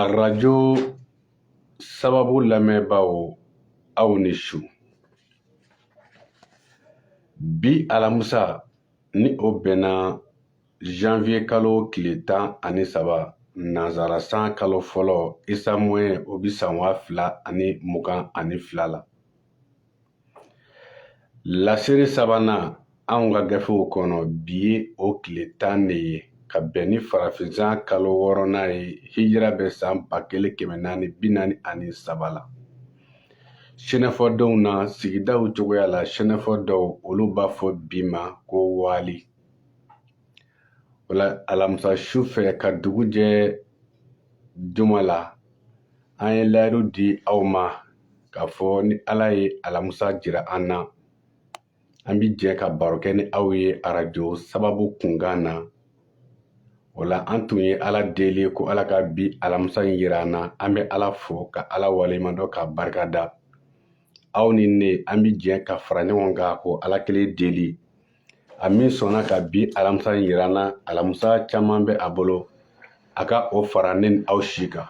arajo sababu lamɛnbaaw aw ni su bi alamusa ni o bɛnna janvier kalo tile tan ani saba nanzara san kalo fɔlɔ isamoye o bi san waa fila ani mugan ani fila la Lasiri sabanan anw ka gafew kɔnɔ bi ye o tile tan de ye ka bɛn ni farafinsan kalo wɔɔrɔnan ye hijira bɛ san ba kelen kɛmɛ naani bi naani ani saba la sɛnɛfɔdenw na sigidaw cogoya la sɛnɛfɔ dɔw olu b'a fɔ bi ma ko waali wala alamisa su fɛ ka dugu jɛ juma la an ye layidu di aw ma k'a fɔ ni ala ye alamisa jira an na an bi jɛ ka baro kɛ ni aw ye arajo sababu kunkan na wala an tun ye ala deli ko ala ka bi alamisa in yira an na an bɛ ala fo ka ala waleɲumandɔn ka barika da aw ni ne an bi jɛ ka fara ɲɔgɔn kan k'o ala kelen deli a min sɔnna ka bi alamisa in yira an na alamisa caman bɛ a bolo a ka o fara ne ni aw si kan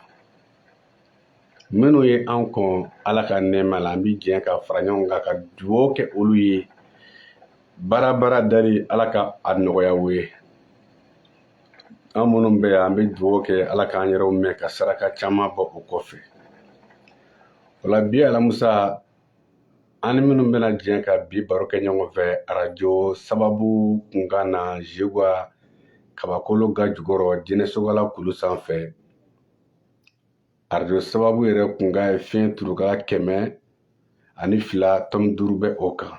minnu ye an kɔn ala ka nɛɛma la an bɛ jɛ ka fara ɲɔgɔn kan ka dugawu kɛ olu ye baara baara dali ala ka a nɔgɔya u ye an minnu bɛ yan an bɛ dugawu kɛ ala k'an yɛrɛw mɛɛn ka saraka caman bɔ o kɔfɛ wala bi alamusa an ni minnu bɛna jɛ ka bi baro kɛ ɲɔgɔn fɛ arajo sababu kunkan na zeguwa kabakolo ga jukɔrɔ jinɛsogala kulu sanfɛ arajo sababu yɛrɛ kunkan ye fiɲɛ turukala kɛmɛ ani fila tɔmi duuru bɛ o kan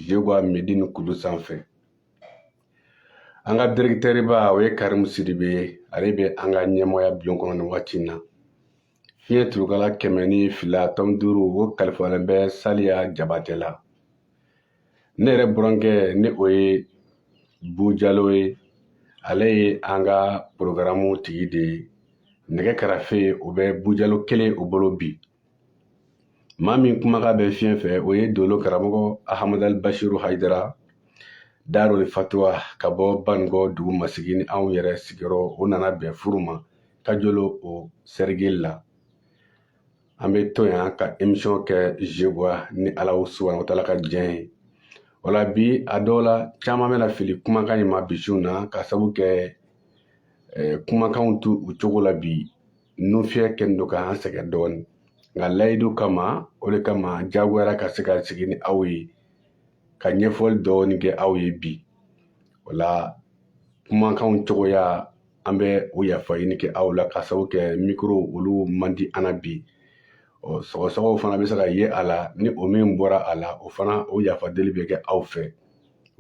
zeguwa medini kulu sanfɛ an ka direkitɛriba o ye karimu sidibe ye ale bɛ an ka ɲɛmɔgɔya bulon kɔnɔ nin waati in na Fiɲɛ turukala kɛmɛ ni fila tɔmi duuru o kalifalen bɛ saliya jabate la ne yɛrɛ burankɛ ni o ye bu jalo ye ale ye an ka porogaramu tigi de ye nɛgɛ karafe o bɛ bu jalo kelen o bolo bi maa min kumakan bɛ fiɲɛ fɛ o ye dolo karamɔgɔ ahamadali basiru hayidara darul fatuwa ka bɔ banikɔ dugu masigi ni anw yɛrɛ sigiyɔrɔ o nana bɛn furu ma kajolo o sɛrikili la an bɛ to yan ka emisiyɔn kɛ zeguwa ni ala subahana wataala ka diɲɛ ye wala bi a dɔ la caman bɛna fili kumakan in ma bi su in na ka sabu kɛ eh, kumakanw t'u cogo la bi nufiyɛ kɛlen don k'an sɛgɛn dɔɔnin nka layidu kama o de kama jagoyara ka se ka sigi ni aw ye ka ɲɛfɔli dɔɔnin kɛ aw ye bi wala kumakanw cogoya an bɛ o yafa ɲini kɛ aw la ka sababu kɛ mikoro olu man di an na bi ɔ sɔgɔsɔgɔw fana bɛ se ka ye a la ni o min bɔra a la o fana o yafa deli bɛ kɛ aw fɛ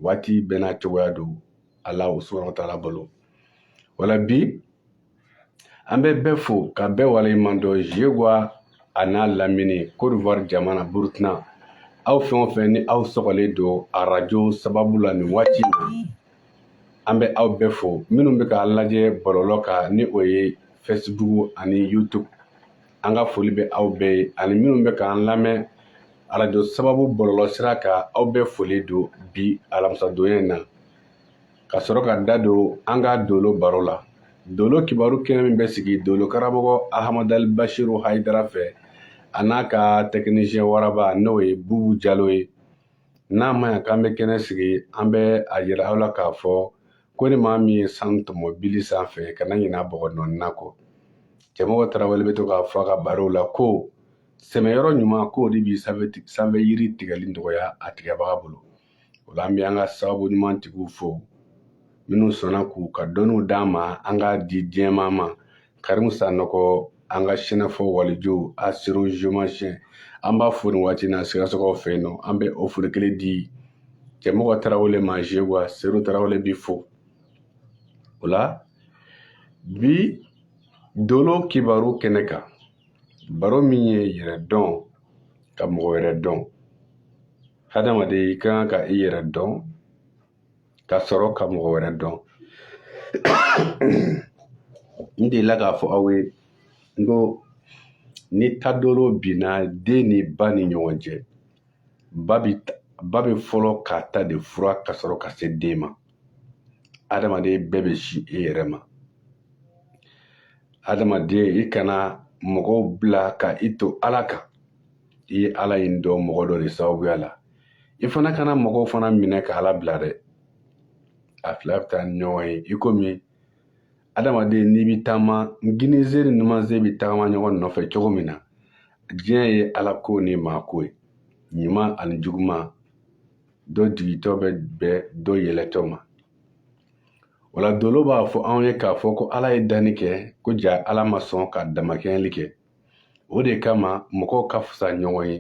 waati bɛɛ n'a cogoya don ala subahana wa taala bolo wala bi an bɛ bɛɛ fo ka bɛɛ waleɲuman dɔn jegwa a n'a lamini cote d'ivoire jamana burukina aw fɛn o fɛn ni aw sɔgɔlen don arajo sababu la nin waati in na an bɛ aw bɛɛ fo minnu bɛ k'an lajɛ bɔlɔlɔ kan ni o ye facebook ani youtube an ka foli bɛ aw bɛɛ ye ani minnu bɛ k'an lamɛn arajo sababu bɔlɔlɔ sira kan aw bɛɛ foli don bi alamisadonya in na ka sɔrɔ ka da don an ka dolo baro la dolo kibaru kɛnɛ min bɛ sigi dolo karamɔgɔ ahamadali bashiru hayidara fɛ a n'a ka tɛkinisiyɛn waraba n'o ye bubu jalo ye n'a ma ɲa k'an bɛ kɛnɛ sigi an bɛ a yira aw la k'a fɔ ko ni maa min ye sanu tɔmɔ bili sanfɛ kana ɲina bɔgɔ nɔɔnina kɔ cɛmɔgɔ tarawele bɛ to k'a fɔ a ka barow la ko sɛmɛyɔrɔ ɲuman k'o de bi sanfɛ yiri tigɛli nɔgɔya a tigɛbaga bolo o la an bɛ an ka sababu ɲuman tigiw fo minnu sɔnna k'u ka dɔnniw d'an ma an k'a di diɲɛmaa ma Karimu Sanɔgɔ an ka sɛnɛfɔ waliju astro géomancien an b'a fo nin waati na sikasokaw fɛ yen nɔ an bɛ o foli kelen di cɛmɔgɔ tarawele ma jegwa seru tarawele b'i fo o la bi dolo kibaru kɛnɛ kan baro min ye yɛrɛ dɔn ka mɔgɔ wɛrɛ dɔn hadamaden i ka kan ka i yɛrɛ dɔn ka sɔrɔ ka mɔgɔ wɛrɛ dɔn n delila k'a fɔ aw ye n ko ni tadolo binna den ni ba ni ɲɔgɔn cɛ ba bɛ fɔlɔ k'a ta de furan ka sɔrɔ ka se den ma adamaden bɛɛ bɛ sin i yɛrɛ ma adamaden i kana mɔgɔw bila ka i to ala kan i ye ala in dɔn mɔgɔ dɔ de sababuya la i fana kana mɔgɔw fana minɛ ka ala bila dɛ a fila bɛ taa ni ɲɔgɔn ye i komi adamaden n'i bɛ taama kininsen ni numansen bɛ tagama ɲɔgɔn nɔfɛ cogo min na diɲɛ ye ala ko ni maa ko ye ɲuman ani juguman dɔ jigitɔ bɛ bɛn dɔ yɛlɛtɔ ma o la dolo b'a fɔ anw ye k'a fɔ ko ala ye danni kɛ ko ja ala ma sɔn ka damakɛɲɛli kɛ o de kama mɔgɔw ka fisa ɲɔgɔn ye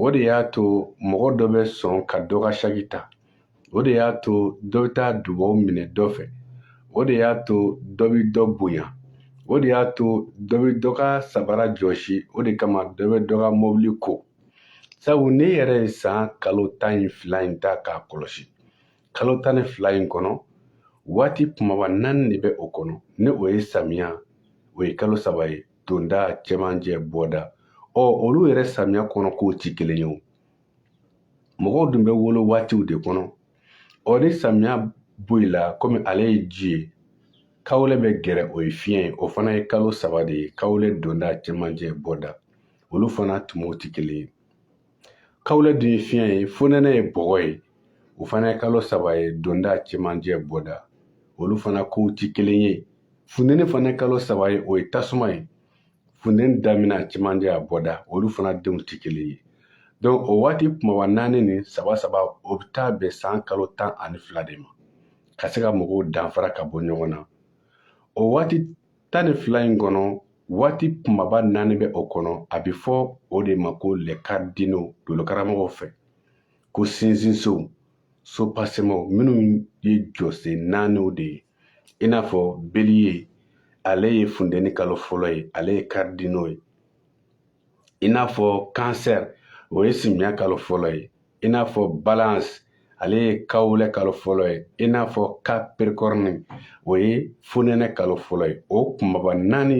o de y'a to mɔgɔ dɔ bɛ sɔn ka dɔ ka saki ta o de y'a to dɔ bɛ taa dubaw minɛ dɔ fɛ o de y'a to dɔ bɛ dɔ bonya o de y'a to dɔ bɛ dɔ ka sabara jɔsi o de kama dɔ bɛ dɔ ka mɔbili ko sabu ne yɛrɛ ye san kalo tan ni fila in ta k'a kɔlɔsi kalo tan ni fila in kɔnɔ waati kumaba naani de bɛ o kɔnɔ ni o ye samiya o ye kalo saba ye donda cɛmancɛ bɔda ɔ olu yɛrɛ samiya kɔnɔ kow ti kelen ye o mɔgɔw dun bɛ wolo waatiw de kɔnɔ ɔ ni samiya bɔ i la komi ale ye ji ye kawlɛ bɛ gɛrɛ o ye fiɲɛ ye o fana ye kalo saba de ye kawlɛ donda cɛmancɛ bɔda olu fana tumaw ti kelen ye kawlɛ dun ye fiɲɛ ye fonɛnɛ ye bɔgɔ ye o fana ye kalo saba ye donda cɛmancɛ bɔda olu fana kow ti kelen ye funteni fana kalo saba ye o ye tasuma ye funteni damina cɛmancɛ a bɔda olu fana denw ti kelen ye donc o waati kumaba naani ni saba saba o bɛ taa bɛn san kalo tan ani fila de ma ka se ka mɔgɔw danfara ka bɔ ɲɔgɔn na o waati tan ni fila in kɔnɔ waati kumaba naani bɛ o kɔnɔ a bɛ fɔ o de ma ko les cardinaux dolokaramɔgɔw fɛ ko sinsinsow sopasemaw minnu ye jɔsen naaniw de ye i n'a fɔ bélier ale ye funteni kalo fɔlɔ ye ale ye cardinaux ye i n'a fɔ cancer o ye simiya kalo fɔlɔ ye i n'a fɔ balance ale ye kawulɛ kalo fɔlɔ ye i n'a fɔ capricorne o ye fonɛnɛ kalo fɔlɔ ye o kumaba naani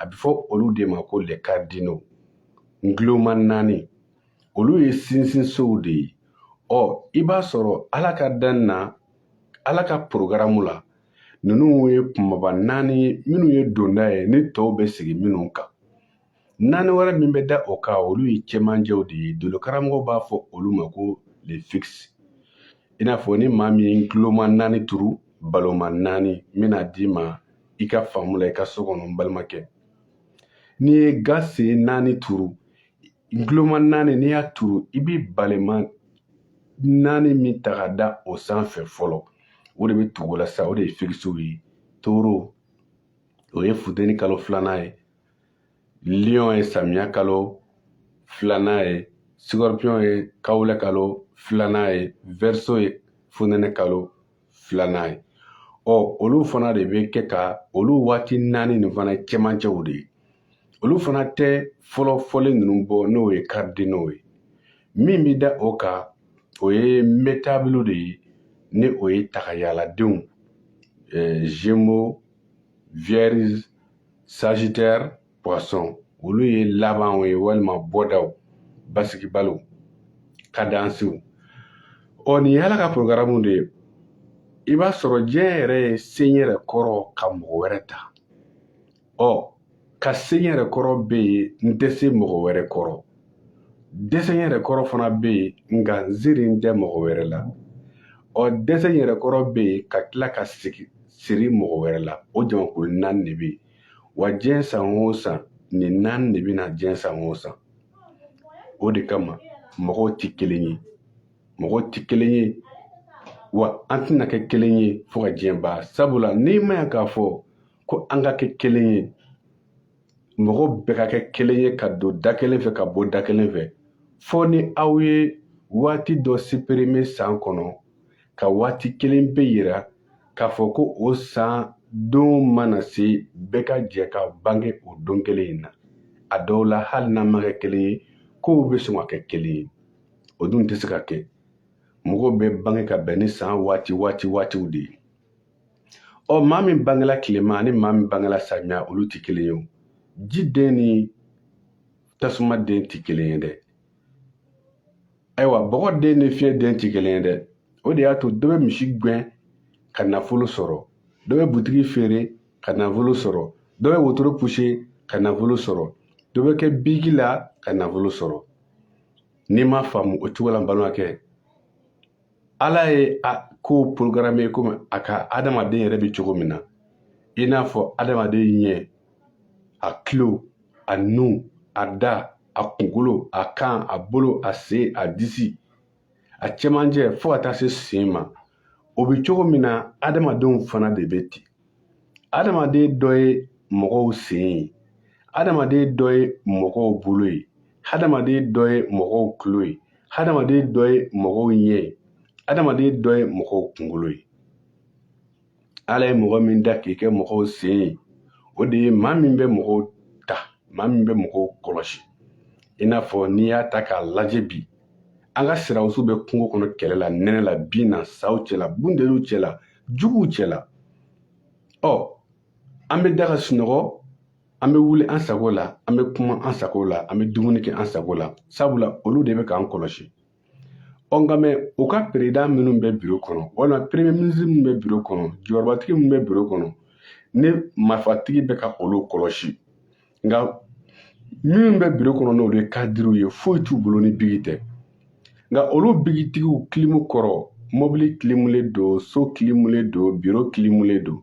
a bɛ fɔ olu de ma ko les cardinaux nguloma naani olu ye sinsinsow de ye ɔ i b'a sɔrɔ ala ka danni na ala ka porogaramu la ninnu ye kumaba naani ye minnu ye donda ye ni tɔw bɛ sigi minnu kan naani wɛrɛ min bɛ da o kan olu ye cɛmancɛw de ye dolokaramɔgɔ b'a fɔ olu ma ko les fixes i n'a fɔ ni maa min ye nguloma naani turu baloma naani n bɛna d'i ma i ka faamu la i ka so kɔnɔ n balimakɛ n'i ye ga sen naani turu nguloma naani n'i y'a turu i bɛ balema naani min ta ka da o sanfɛ fɔlɔ o de bɛ tugu la sa o de ye fixes ye taureau o ye funteni kalo filanan ye lion ye samiya kalo filanan ye scorpion ye kawulɛ kalo filanan ye verseau ye fonɛnɛ kalo filanan ye ɔ olu fana de bɛ kɛ ka olu waati naani nin fana cɛmancɛw de ye olu fana tɛ fɔlɔ fɔlen ninnu bɔ n'o ye cardinaux ye min bɛ da o kan o ye mutables de ye ni o ye tagayaladenw gémeaux vierge Sagittaire poisson olu ye labanw ye walima bɔdaw basigibaliw kadansiw ɔ nin ye ala ka porogaramu de ye i b'a sɔrɔ diɲɛ yɛrɛ ye se n yɛrɛ kɔrɔ ka mɔgɔ wɛrɛ ta ɔ ka se n yɛrɛ kɔrɔ bɛ yen n tɛ se mɔgɔ wɛrɛ kɔrɔ dɛsɛ yɛrɛ kɔrɔ fana bɛ yen nka n sirilen tɛ mɔgɔ wɛrɛ la ɔ dɛsɛ yɛrɛ kɔrɔ bɛ yen ka tila ka siri mɔgɔ wɛrɛ la o jamakulu naani de bɛ yen wa diɲɛ san o san nin naani de bɛ na diɲɛ san o san o de kama mɔgɔw tɛ kelen ye mɔgɔw tɛ kelen ye wa an tɛna kɛ kelen ye fo ka diɲɛ ban sabula n'i ma yan k'a fɔ ko an ka kɛ kelen ye mɔgɔ bɛɛ ka kɛ kelen ye ka don da kelen fɛ ka bɔ da kelen fɛ fo ni aw ye waati dɔ supprimer san kɔnɔ ka waati kelen pe yira k'a fɔ ko o san don mana se bɛɛ ka jɛ ka bange o don kelen in na a dɔw la hali n'a ma kɛ kelen ye kow bɛ sɔn ka kɛ kelen ye o dun tɛ se ka kɛ mɔgɔw bɛ bange ka bɛn ni san waati waati waatiw de ye ɔ maa min bangela tilema ani maa min bangela samiya olu tɛ kelen ye o ji den ni tasuma den tɛ kelen ye dɛ ayiwa bɔgɔ den ni fiɲɛ den tɛ kelen ye dɛ o de y'a to dɔ bɛ misi gɛn ka nafolo sɔrɔ dɔ bɛ butigi feere ka nafolo sɔrɔ dɔ bɛ wotoro puse ka nafolo sɔrɔ dɔ bɛ kɛ biki la ka nafolo sɔrɔ n'i m'a faamu o cogo la n balimakɛ ala ye a kow programme komi a ka adamaden yɛrɛ bɛ cogo min na i n'a fɔ adamaden ɲɛ a kilo a nu a da a kunkolo a kan a bolo a sen a disi a cɛmancɛ fo ka taa se sen ma o bɛ cogo min na adamadenw fana de bɛ ten adamaden dɔ ye mɔgɔw sen ye adamaden dɔ ye mɔgɔw bolo ye adamaden dɔ ye mɔgɔw tulo ye adamaden dɔ ye mɔgɔw ɲɛ ye adamaden dɔ ye mɔgɔw kunkolo ye ala ye mɔgɔ min da k'i kɛ mɔgɔw sen ye o de ye maa min bɛ mɔgɔw ta maa min bɛ mɔgɔw kɔlɔsi i n'a fɔ n'i y'a ta k'a lajɛ bi an ka sɔrɔdasiw bɛ kungo kɔnɔ kɛlɛ la nɛnɛ la bin na saw cɛla bunteniw cɛla juguw cɛla ɔ an bɛ da ka sunɔgɔ an bɛ wuli an sago la an bɛ kuma an sago la an bɛ dumuni kɛ an sago la sabula olu de bɛ k'an kɔlɔsi ɔ nka mɛ u ka perezidan minnu bɛ biro kɔnɔ walima peremiye minisiri minnu bɛ biro kɔnɔ jɔyɔrɔbatigi minnu bɛ biro kɔnɔ ni marifatigi bɛ ka olu kɔlɔsi nka minnu bɛ biro kɔnɔ n'olu ye kadiriw ye foyi t'u bolo ni bigi tɛ nka olu bigitigiw kilimu kɔrɔ mɔbili kilimulen don so kilimulen don biro kilimulen don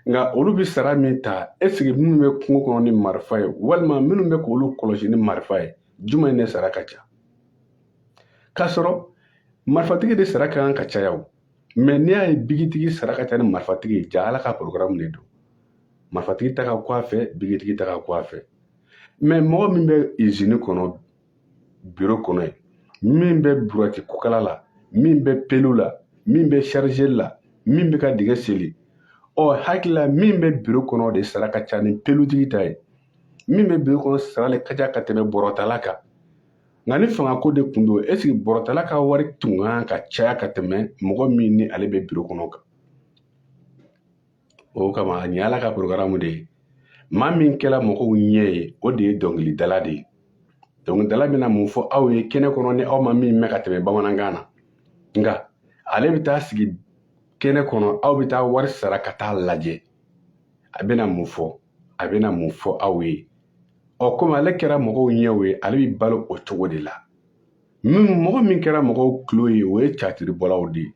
nka olu bɛ sara min ta ɛsike minnu bɛ kungo kɔnɔ ni marifa ye walima minnu bɛ k'olu kɔlɔsi ni marifa ye jumɛn de sara ka ca k'a sɔrɔ marifatigi de sara ka kan ka caya o mɛ n'i y'a ye bigitigi sara ka ca ni marifatigi ye ja ala ka porogaramu de don marifatigi ta ka kɔ a fɛ bikitigi ta ka kɔ a fɛ mɛ mɔgɔ min bɛ izini kɔnɔ biro kɔnɔ yen min bɛ burati kukala la min bɛ pelu la min bɛ sarize la min bɛ ka dingɛ seli ɔ hakili la min bɛ biro kɔnɔ de sara ka ca ni pelutigi ta ye min bɛ biro kɔnɔ sara le ka ca ka tɛmɛ bɔrɔtala kan nka ni fangako de tun don ɛsike bɔrɔtala ka wari tun kan ka caya ka tɛmɛ mɔgɔ min ni ale bɛ biro kɔnɔ kan o kama nin ala ka porogaramu de ye maa min kɛra mɔgɔw ɲɛ ye o de ye dɔnkilidala de ye dɔnkilidala bɛna mun fɔ aw ye kɛnɛ kɔnɔ ni aw ma min mɛn ka tɛmɛ bamanankan na nka ale bɛ taa sigi kɛnɛ kɔnɔ aw bɛ taa wari sara ka taa a lajɛ a bɛna mun fɔ a bɛna mun fɔ aw ye ɔ komi ale kɛra mɔgɔw ɲɛw ye ale bɛ balo o cogo de la mɔgɔ min kɛra mɔgɔw tulo ye o ye catiribɔlaw de ye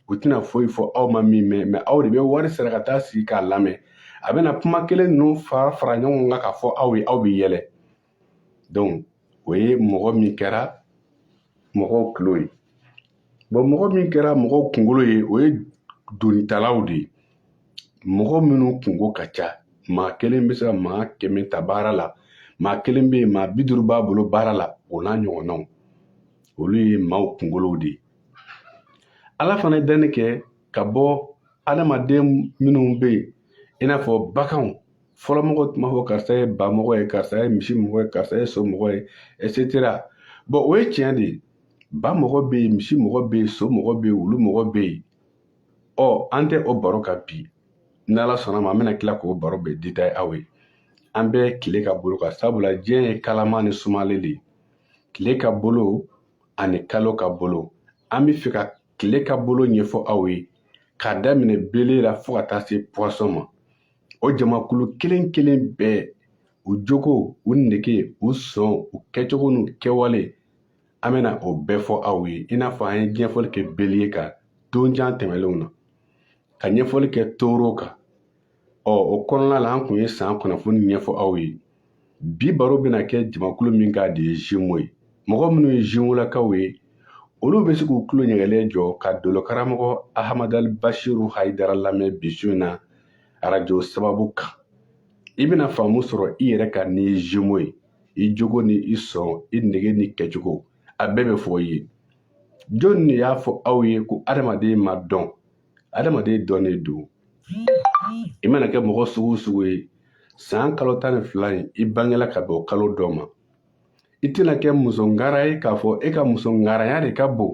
u tɛna foyi fɔ aw ma min mɛn mɛ aw de bɛ wari sara ka taa sigi k'a lamɛn a bɛna kuma kelen ninnu fara fara ɲɔgɔn kan k'a fɔ aw ye aw bɛ yɛlɛ donc o ye mɔgɔ min kɛra mɔgɔw tulo ye bɔn mɔgɔ min kɛra mɔgɔw kunkolo ye o ye donitalaw de ye mɔgɔ minnu kunko ka ca maa kelen bɛ se ka maa kɛmɛ ta baara la maa kelen bɛ yen maa bi duuru b'a bolo baara la o n'a ɲɔgɔnnaw olu ye maaw kunkolow de ye ala fana ye danni kɛ ka bɔ adamaden minnu bɛ yen i n'a fɔ baganw fɔlɔ mɔgɔ tun b'a fɔ karisa ye ba mɔgɔ ye karisa ye misi mɔgɔ ye karisa ye so mɔgɔ ye etc bɔn o ye tiɲɛ de ye ba mɔgɔ bɛ yen misi mɔgɔ bɛ yen so mɔgɔ bɛ yen wulu mɔgɔ bɛ yen ɔ an tɛ o baro kan bi n'ala sɔnna ma an bɛna tila k'o baro bɛɛ detaye aw ye an bɛ tile ka bolo kan sabula diɲɛ ye kalama ni sumalen de ye tile ka bolo ani kalo ka bolo an bɛ fɛ ka tile ka bolo ɲɛfɔ aw ye k'a daminɛ beliye la fo ka taa se puwasɔn ma o jamakulu kelen kelen bɛɛ u jogo u nege u sɔn u kɛcogo n'u kɛwale an bɛna o bɛɛ fɔ aw ye i n'a fɔ an ye ɲɛfɔli kɛ beliye kan don jan tɛmɛnlenw na ka ɲɛfɔli kɛ toro kan ɔ o kɔnɔna la an tun ye san kunnafoni ɲɛfɔ aw ye bi baro bɛna kɛ jamakulu min kan de ye zimo ye mɔgɔ minnu ye zimolakaw ye olu bɛ se k'u tulo ɲɛgɛlen jɔ ka dolo karamɔgɔ ahamadali basiru hayidara lamɛn bi su in na arajo sababu kan i bɛna faamu sɔrɔ i yɛrɛ kan n'i ye zimo ye i jogo ni i sɔn i nege n'i kɛcogo a bɛɛ bɛ fɔ i ye jɔnni de y'a fɔ aw ye ko adamaden ma dɔn adamaden dɔnnen don i mana kɛ mɔgɔ sugu sugu ye san kalo tan ni fila in i bangela ka bɛn o kalo dɔ ma i tɛna kɛ muso ngara ye k'a fɔ e ka muso ngaranya de ka bon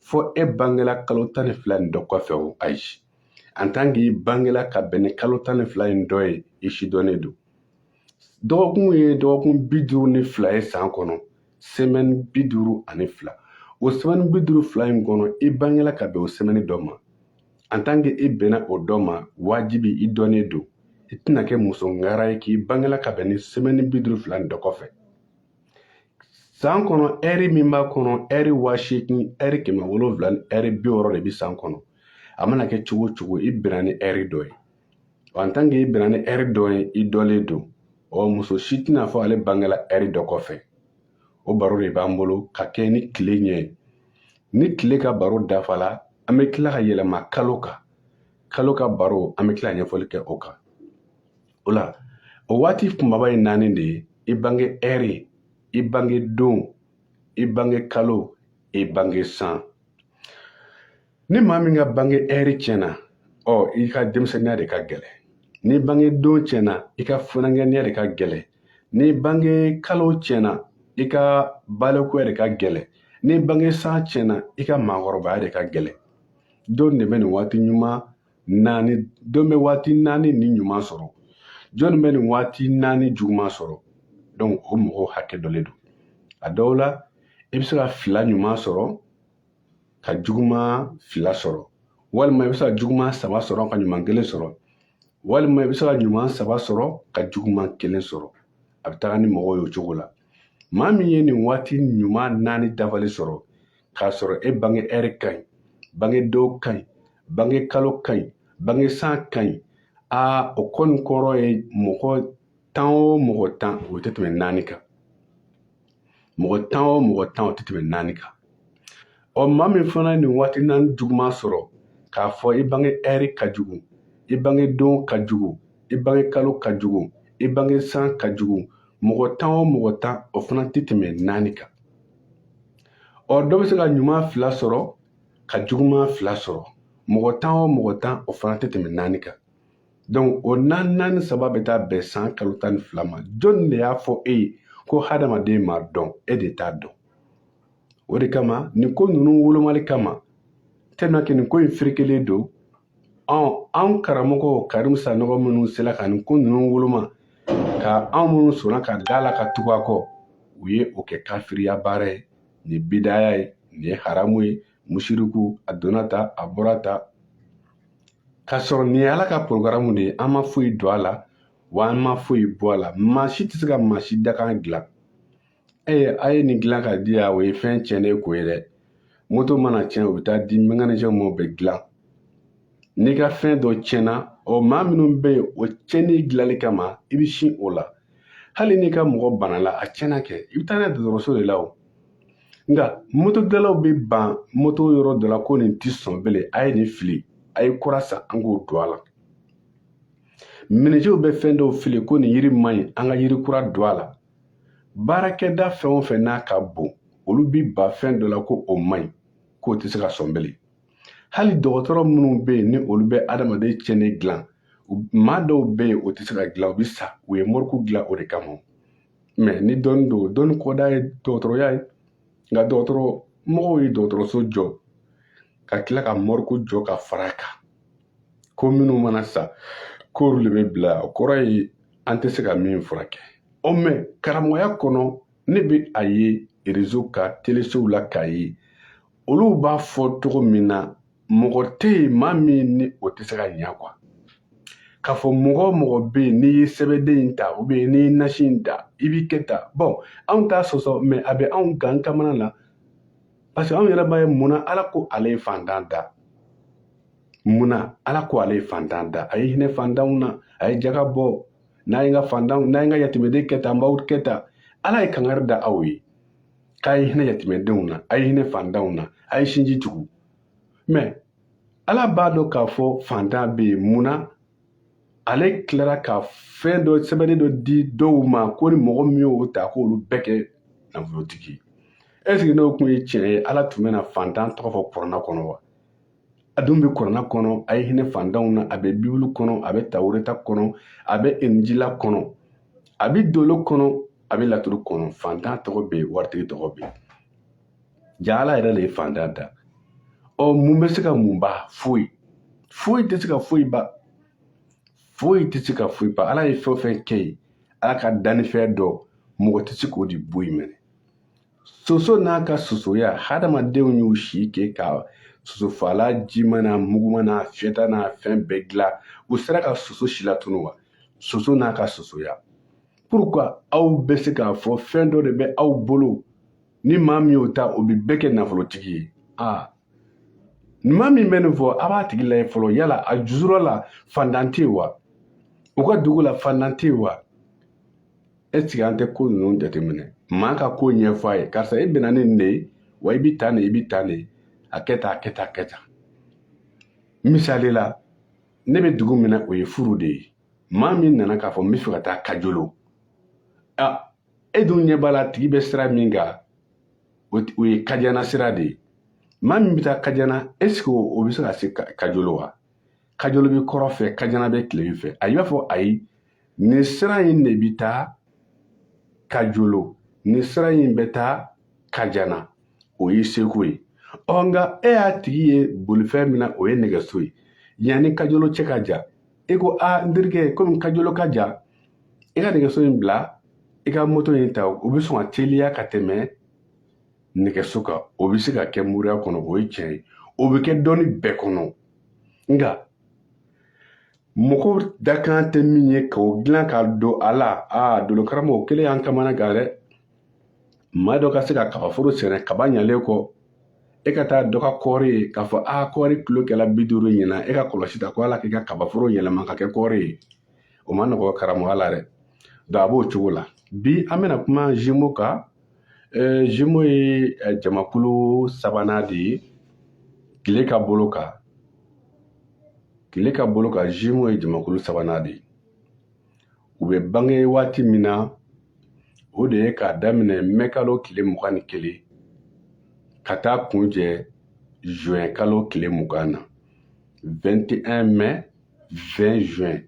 fɔ e bangela kalo tan ni fila nin dɔ kɔfɛ o ayi en tant que i bangela ka bɛn ni kalo tan ni fila in dɔ ye i si dɔnnen don dɔgɔkun ye dɔgɔkun bi duuru ni fila ye san kɔnɔ semɛni bi duuru ani fila o semɛni bi duuru fila in kɔnɔ i bangela ka bɛn o semɛni dɔ ma en tant que i bɛnna o dɔ ma wajibi i dɔnnen don i tɛna kɛ muso ŋara ye k'i bangela ka bɛn ni semɛni bi duuru fila ni dɔ kɔfɛ san kɔnɔ ɛri min b'a kɔnɔ ɛri waa seegin ɛri kɛmɛ wolonwula ni ɛri bi wɔɔrɔ de bi san kɔnɔ a mana kɛ cogo o cogo i bɛnna ni ɛri dɔ ye en tant que i bɛnna ni ɛri dɔ ye i dɔlen don ɔ muso si tɛna fɔ ale bangela ɛri dɔ kɔfɛ o baro de b'an bolo ka kɛ ni tile ɲɛ ye ni tile ka baro dafala an bɛ tila ka yɛlɛma kalo kan kalo ka baro an bɛ tila ɲɛfɔli kɛ o kan o la o waati kunbaba ye naani de ye i bange ɛri i bange don i bange kalo i bange san ni maa min ka bange ɛri tiɲɛna ɔ i ka denmisɛnninya de ka gɛlɛ ni bange don tiɲɛna i ka funankɛninya de ka gɛlɛ ni bange kalo tiɲɛna i ka balikuya de ka gɛlɛ ni bange san tiɲɛna i ka maakɔrɔbaya de ka gɛlɛ jɔn de bɛ nin waati ɲuman naani jɔn bɛ waati naani ni ɲuman sɔrɔ jɔnni bɛ nin waati naani juguman sɔrɔ donc o mɔgɔw hakɛ dɔlen don a dɔw la i bɛ se ka fila ɲuman sɔrɔ ka juguman fila sɔrɔ walima i bɛ se ka juguman saba sɔrɔ ka ɲuman kelen sɔrɔ walima i bɛ se ka ɲuman saba sɔrɔ ka juguman kelen sɔrɔ a bɛ taga ni mɔgɔw ye o cogo la maa min ye nin waati ɲuman naani dafali sɔrɔ k'a sɔrɔ e bange ɛri ka ɲi bange don ka ɲi bange kalo ka ɲi bange san ka ɲi aa o kɔni kɔrɔ ye mɔgɔ tan o mɔgɔ tan o tɛ tɛmɛ naani kan mɔgɔ tan o mɔgɔ tan o tɛ tɛmɛ naani kan ɔ maa min fana ye nin waati naani juguman sɔrɔ k'a fɔ i bange ɛri ka jugu i bange don ka jugu i bange kalo ka jugu i bange san ka jugu mɔgɔ tan o mɔgɔ tan o fana tɛ tɛmɛ naani kan ɔ dɔ bɛ se ka ɲuman fila sɔrɔ ka juguman fila sɔrɔ mɔgɔ tan o mɔgɔ tan o fana tɛ tɛmɛ naani kan donc o naani naani saba bɛ taa bɛn san kalo tan ni fila ma jɔnni de y'a fɔ e ye ko hadamaden ma dɔn e de t'a dɔn o de kama nin ko ninnu wolomali kama tellement que nin ko in ferekelen don ɔn anw karamɔgɔ karimu sanɔgɔ minnu sela ka nin ko ninnu woloma ka anw minnu sɔnna ka da la ka tugu a kɔ u ye o kɛ kafiriya baara ye nin bidaya ye nin ye haramu ye musiriku a donna tan a bɔra tan k'a sɔrɔ nin ye ala ka porogaramu de ye an ma foyi don a la wa an ma foyi bɔ a la maa si tɛ se ka maa si dakan dilan ee a ye nin dilan ka di yan o ye fɛn tiɲɛnen ko ye dɛ moto mana tiɲɛ o bɛ taa di mɛkanisiyɛn ma o bɛ dilan n'i ka fɛn dɔ tiɲɛna ɔ maa minnu bɛ yen o tiɲɛnen dilanli kama i bɛ sin o la hali n'i ka mɔgɔ banala a tiɲɛna kɛ i bɛ taa n'a ye dɔgɔtɔrɔso de la o nka moto dilanlaw bɛ ban moto yɔrɔ dɔ la ko nin tɛ sɔn bilen a ye nin fili a ye kura san an k'o don a la minijew bɛ fɛn dɔw fili ko nin yiri man ɲi an ka yiri kura don a la baarakɛda fɛn o fɛn n'a ka bon olu bi ban fɛn dɔ la ko o man ɲi k'o tɛ se ka sɔn bilen hali dɔgɔtɔrɔ minnu bɛ yen ni olu bɛ adamaden tiɲɛnen dilan maa dɔw bɛ yen o tɛ se ka dilan u bɛ sa u ye mɔriku dilan o de kama mɛ ni dɔnni don dɔnni kɔdan ye dɔgɔtɔrɔya ye nka dɔgɔtɔrɔ mɔgɔw ye dɔgɔtɔrɔso jɔ ka tila ka mɔriku jɔ ka fara a kan ko minnu mana sa k'olu de bɛ bila yen o kɔrɔ ye an tɛ se ka min furakɛ ɔ mɛ karamɔgɔya kɔnɔ ne bɛ a ye rezo kan telesow la k'a ye olu b'a fɔ cogo min na mɔgɔ tɛ yen maa min ni o tɛ se ka ɲɛ kuwa k'a fɔ mɔgɔ o mɔgɔ bɛ yen n'i ye sɛbɛnden in ta ubiyɛn n'i ye nasi in ta i bɛ kɛ tan bɔn anw t'a sɔsɔ mɛ a bɛ anw gan kamana na parce que anw yɛrɛ b'a ye mun na ala ko ale ye fantan da mun na ala ko ale ye fantan da a ye hinɛ fantanw na a ye jaga bɔ n'a ye n ka fantanw n'a ye n ka yatimɛden kɛ tan n b'aw kɛ tan ala ye kangari da aw ye k'a ye hinɛ yatimɛdenw na a ye hinɛ fantanw na a ye sinji tugu mɛ ala b'a dɔn k'a fɔ fantan bɛ yen mun na ale tilara ka fɛn dɔ sɛbɛnnen dɔ di dɔw ma ko ni mɔgɔ min y'o ta k'olu bɛɛ kɛ nafolotigi ye ɛseke n'o kun ye tiɲɛ ye ala tun bɛna fantan tɔgɔ fɔ kurana kɔnɔ wa a dun bɛ kurana kɔnɔ a ye hinɛ fantanw na a bɛ bibulu kɔnɔ a bɛ tawureta kɔnɔ a bɛ injila kɔnɔ a bɛ dolo kɔnɔ a bɛ laturu kɔnɔ fantan tɔgɔ bɛ yen waritigi tɔgɔ bɛ yen jaa ala yɛrɛ de ye fantan da ɔ mun bɛ se ka mun ban foyi foyi tɛ se ka foyi ban foyi tɛ se ka foyi ban ala ye fɛn o fɛn kɛ yen ala ka dannifɛn don mɔgɔ tɛ se k'o de bɔ yen mɛnɛ soso n'a ka sosoya hadamadenw y'u si kɛ ka sosofalan jima n'a muguma n'a fiyɛta n'a fɛn bɛɛ dilan u sera ka soso si latunu wa soso n'a ka sosoya pourquoi aw bɛ se k'a fɔ fɛn dɔ de bɛ aw bolo ni maa min y'o ta o bɛ bɛɛ kɛ nafolotigi ye aa maa min bɛ nin fɔ a b'a tigi lajɛ fɔlɔ yala a jusura la fantan tɛ yen wa u ka dugu la fantan tɛ yen wa eseke an tɛ ko ninnu jateminɛ maa ka ko ɲɛfɔ a ye karisa e bɛnna ni nin de ye wa i bi tan de i bi tan de a kɛ tan a kɛ tan a kɛ tan misali la ne bɛ dugu min na o ye furu de ye maa min nana k'a fɔ n bɛ fɛ ka taa kajolo e dun ɲɛ b'a la a tigi bɛ sira min kan o ye kajana sira de ye maa min bɛ taa kajana eseke o bɛ se ka se kajolo wa kajolo bɛ kɔrɔn fɛ kajana bɛ tilebin fɛ i b'a fɔ a ye nin sira in de bɛ taa kajolo nin sira in bɛ taa kajana o y'i seko ye ɔ nka e y'a tigi ye bolifɛn min na o ye nɛgɛso ye yanni kajolo cɛ ka jan e ko a n terikɛ komi kajolo ka jan i ka nɛgɛso in bila i ka moto in ta o bɛ sɔn ka teliya ka tɛmɛ nɛgɛso kan o bɛ se ka kɛ moriya kɔnɔ o ye tiɲɛ ye o bɛ kɛ dɔnni bɛɛ kɔnɔ nka mɔgɔ dakan tɛ min ye k'o dilan ka don a la aa dolokaramɔgɔ o kelen y'an kamana gan dɛ maa dɔ ka se ka kaba foro sɛnɛ kaba ɲalen kɔ e ka taa dɔ ka kɔɔri ye k'a fɔ a kɔɔri kilo kɛla bi duuru ɲinan e ka kɔlɔsi ta ko ala k'i ka kaba foro yɛlɛma ka kɛ kɔɔri ye o ma nɔgɔ karamɔgɔya la dɛ donc a b'o cogo la bi an bɛna kuma zimo kan Ɛɛ zimo ye jamakulu sabanan de ye tile ka bolo kan tile ka bolo kan zimo ye jamakulu sabanan de ye u bɛ bange waati min na o de ye k'a daminɛ mɛ kalo tile mugan ni kelen ka taa kuncɛ zuwɛn kalo tile mugan na 21 mai 20 juin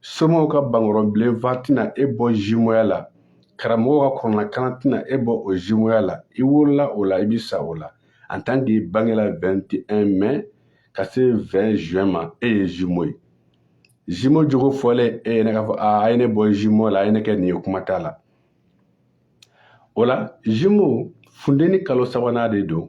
somaw ka bankɔrɔbilenfa tɛna e bɔ zimoya la karamɔgɔw ka kuranakalan tɛna e bɔ o zimoya la i wolola o la i bi sa o la en tant que i bangela 21 mai ka se 20 juin ma e ye zimo ye zimo jogo fɔlen e yɛrɛ k'a fɔ a a ye ne bɔ zimo la a ye ne kɛ nin ye kuma t'a la o la zimo funteni kalo sabanan de don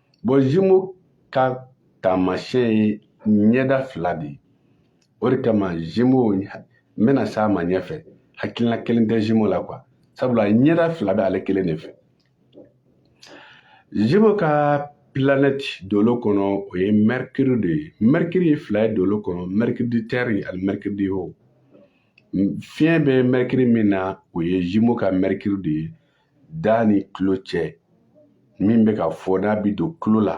zimo ka taamasiyɛn ye ɲɛda fila de ye o de kama zimo n bɛna s'a ma ɲɛfɛ hakilina kelen tɛ zimo la kuwa sabula ɲɛda fila bɛ ale kelen de fɛ zimo ka planɛti dolo kɔnɔ o ye mɛrikiri de ye mɛrikiri ye fila ye dolo kɔnɔ mɛrikiri di tɛri ani mɛrikiri di ho fiɲɛ bɛ mɛrikiri min na o ye zimo ka mɛrikiri de ye da ni tulo cɛ min bɛ ka fɔ n'a bɛ don tulo la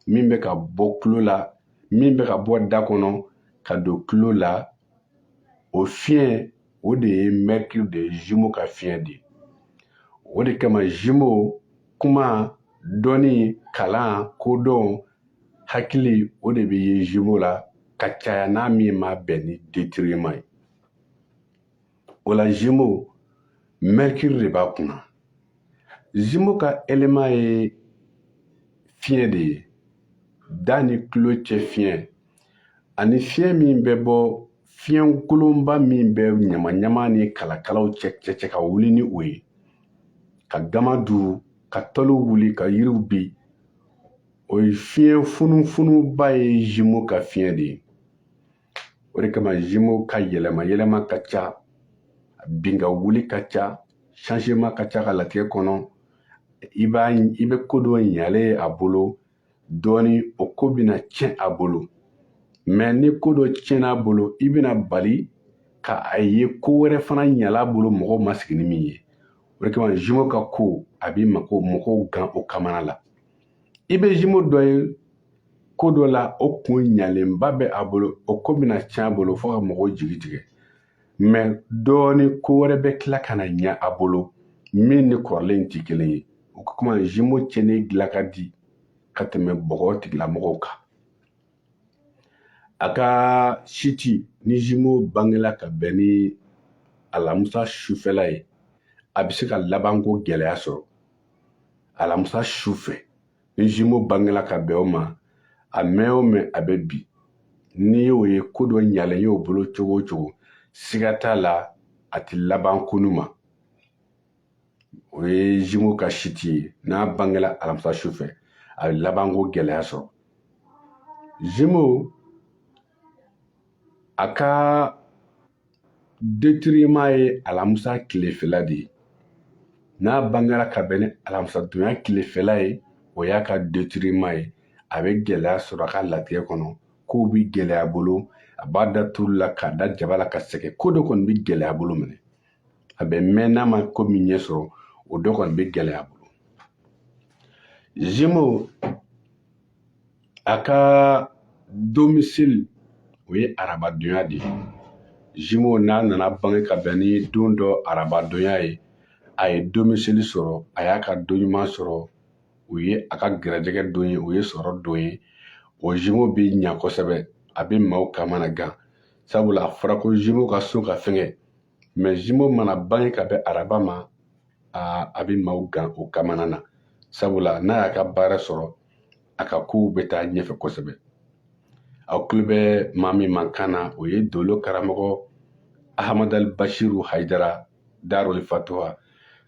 min bɛ ka bɔ tulo la min bɛ ka bɔ da kɔnɔ ka don tulo la o fiɲɛ o de ye mercure de ye gémeaux ka fiɲɛ de o de kama gémeaux kuma dɔnni kalan kodɔn hakili o de bɛ ye gémeaux la ka caya n'a min ma bɛn ni détriment ye o la gémeaux mercure de b'a kunna gémeaux ka élément ye fiɲɛ de ye da ni tulo cɛ fiɲɛ ani fiɲɛ min bɛ bɔ fiɲɛ kolonba min bɛ ɲamaɲama ni kalakalaw cɛ cɛ cɛ ka wuli ni o ye ka gama duuru ka tɔliw wuli ka yiriw bin o ye fiɲɛ funufunuba ye gémeaux ka fiɲɛ de ye o de kama gémeaux ka yɛlɛma yɛlɛma ka ca bin ka wuli ka ca changement ka ca ka latigɛ kɔnɔ i b'a i bɛ ko dɔ ɲalen y'a bolo dɔɔni o ko bɛna tiɲɛ a bolo mɛ ni ko dɔ tiɲɛna a bolo i bɛna bali ka a ye ko wɛrɛ fana ɲala a bolo mɔgɔw ma sigi ni min ye o de kama gémeaux ka ko a bɛ mako mɔgɔw gan u kamana la i bɛ gémeaux dɔ ye ko dɔ la o kun ɲalenba bɛ a bolo o ko bɛna tiɲɛ a bolo fo ka mɔgɔw jigi tigɛ mɛ dɔɔni ko wɛrɛ bɛ tila ka na ɲɛ a bolo min ni kɔrɔlen tɛ kelen ye o ka kuma gémeaux cɛnni dilan ka di ka tɛmɛ bɔgɔ tigilamɔgɔw kan a ka chute ni gémeaux bangela ka bɛn ni alamusa sufɛla ye a bɛ se ka labanko gɛlɛya sɔrɔ alamisa su fɛ ni gémeaux bangela ka bɛn o ma a mɛn o mɛn a bɛ bin n'i y'o ye ko dɔ ɲalen y'o bolo cogo o cogo siga t'a la a tɛ laban koɲuman o ye gémeaux ka chute ye n'a bangela alamisa su fɛ a bɛ labanko gɛlɛya sɔrɔ gémeaux a ka détriment ye alamisa tilefɛla de ye n'a bangera ka bɛn ni alamisadonya tilefɛla ye o y'a ka détriment ye a bɛ gɛlɛya sɔrɔ a ka latigɛ kɔnɔ kow bi gɛlɛya a bolo a b'a da turu la k'a da jaba la ka sɛgɛn ko dɔ kɔni bi gɛlɛya a bolo minɛ a bɛ mɛn n'a ma ko min ɲɛ sɔrɔ o dɔ kɔni bi gɛlɛya a bolo gémeaux a ka domicile o ye arabadonya de ye gémeaux n'a nana bange ka bɛn ni don dɔ arabadonya ye a ye domicile sɔrɔ a y'a ka don ɲuman sɔrɔ o ye a ka gɛrɛjɛgɛ don ye o ye sɔrɔ don ye o gémeaux bɛ ɲa kosɛbɛ a bɛ maaw kamana gan sabula a fɔra ko gémeaux ka so ka fɛgɛn mɛ zimo mana bange ka bɛn araba ma a bɛ maaw gan o kamana na sabula n'a y'a ka baara sɔrɔ a ka kow bɛ taa ɲɛfɛ kosɛbɛ aw tulo bɛ maa min mankan na o ye dolo karamɔgɔ ahamadali bashiru hayidara daroli fatuwa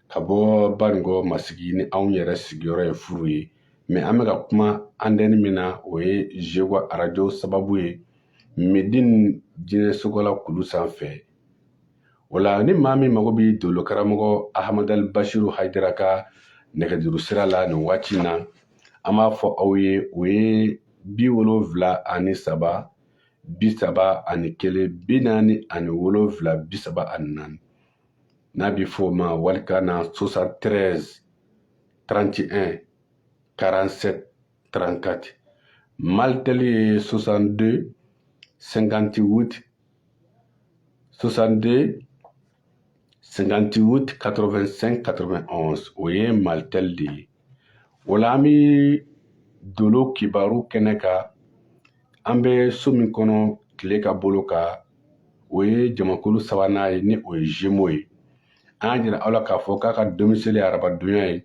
ka bɔ banikɔ masigi ni anw yɛrɛ sigiyɔrɔ ye furu ye mɛ an bɛ ka kuma antɛni min na o ye zewa arajo sababu ye medin jinɛ sogola kulu sanfɛ o la ni maa min mago bɛ dolo karamɔgɔ ahamadal bashiru haidara ka nɛgɛjuru sira la nin waati na an b'a fɔ aw ye o ye bi wolonfila ani saba bi saba ani kelen bi naani ani wolonfila bi saba ani naani n'a bɛ f'o ma walikan na 73 31 47 34 malitɛli ye 62 58 62 58 85 91 o ye malitɛli de ye o la an bɛ dolo kibaru kɛnɛ kan an bɛ so min kɔnɔ tile ka bolo kan o ye jamakulu sabanan ye ni o ye zemo ye an y'a jira aw la k'a fɔ k'a ka domisili ye arabadonya ye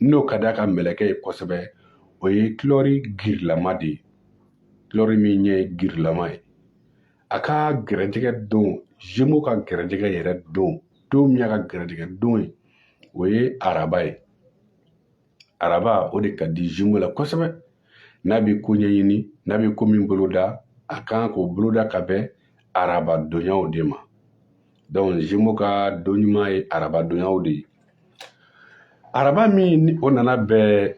n'o ka d'a ka mɛlɛkɛ ye kosɛbɛ o ye kulɛri girilama de ye kulɛri min ɲɛ ye girilama ye a ka gɛrɛjɛgɛ don zemo ka gɛrɛjɛgɛ yɛrɛ don don min y'a ka gɛrɛjɛgɛ don ye o ye araba ye araba o de ka di zemo la kosɛbɛ n'a bɛ ko ɲɛɲini n'a bɛ ko min boloda a kan k'o boloda ka bɛn araba donyaw de ma donc zemo ka don ɲuman ye arabadonyaw de ye araba min ni o nana bɛn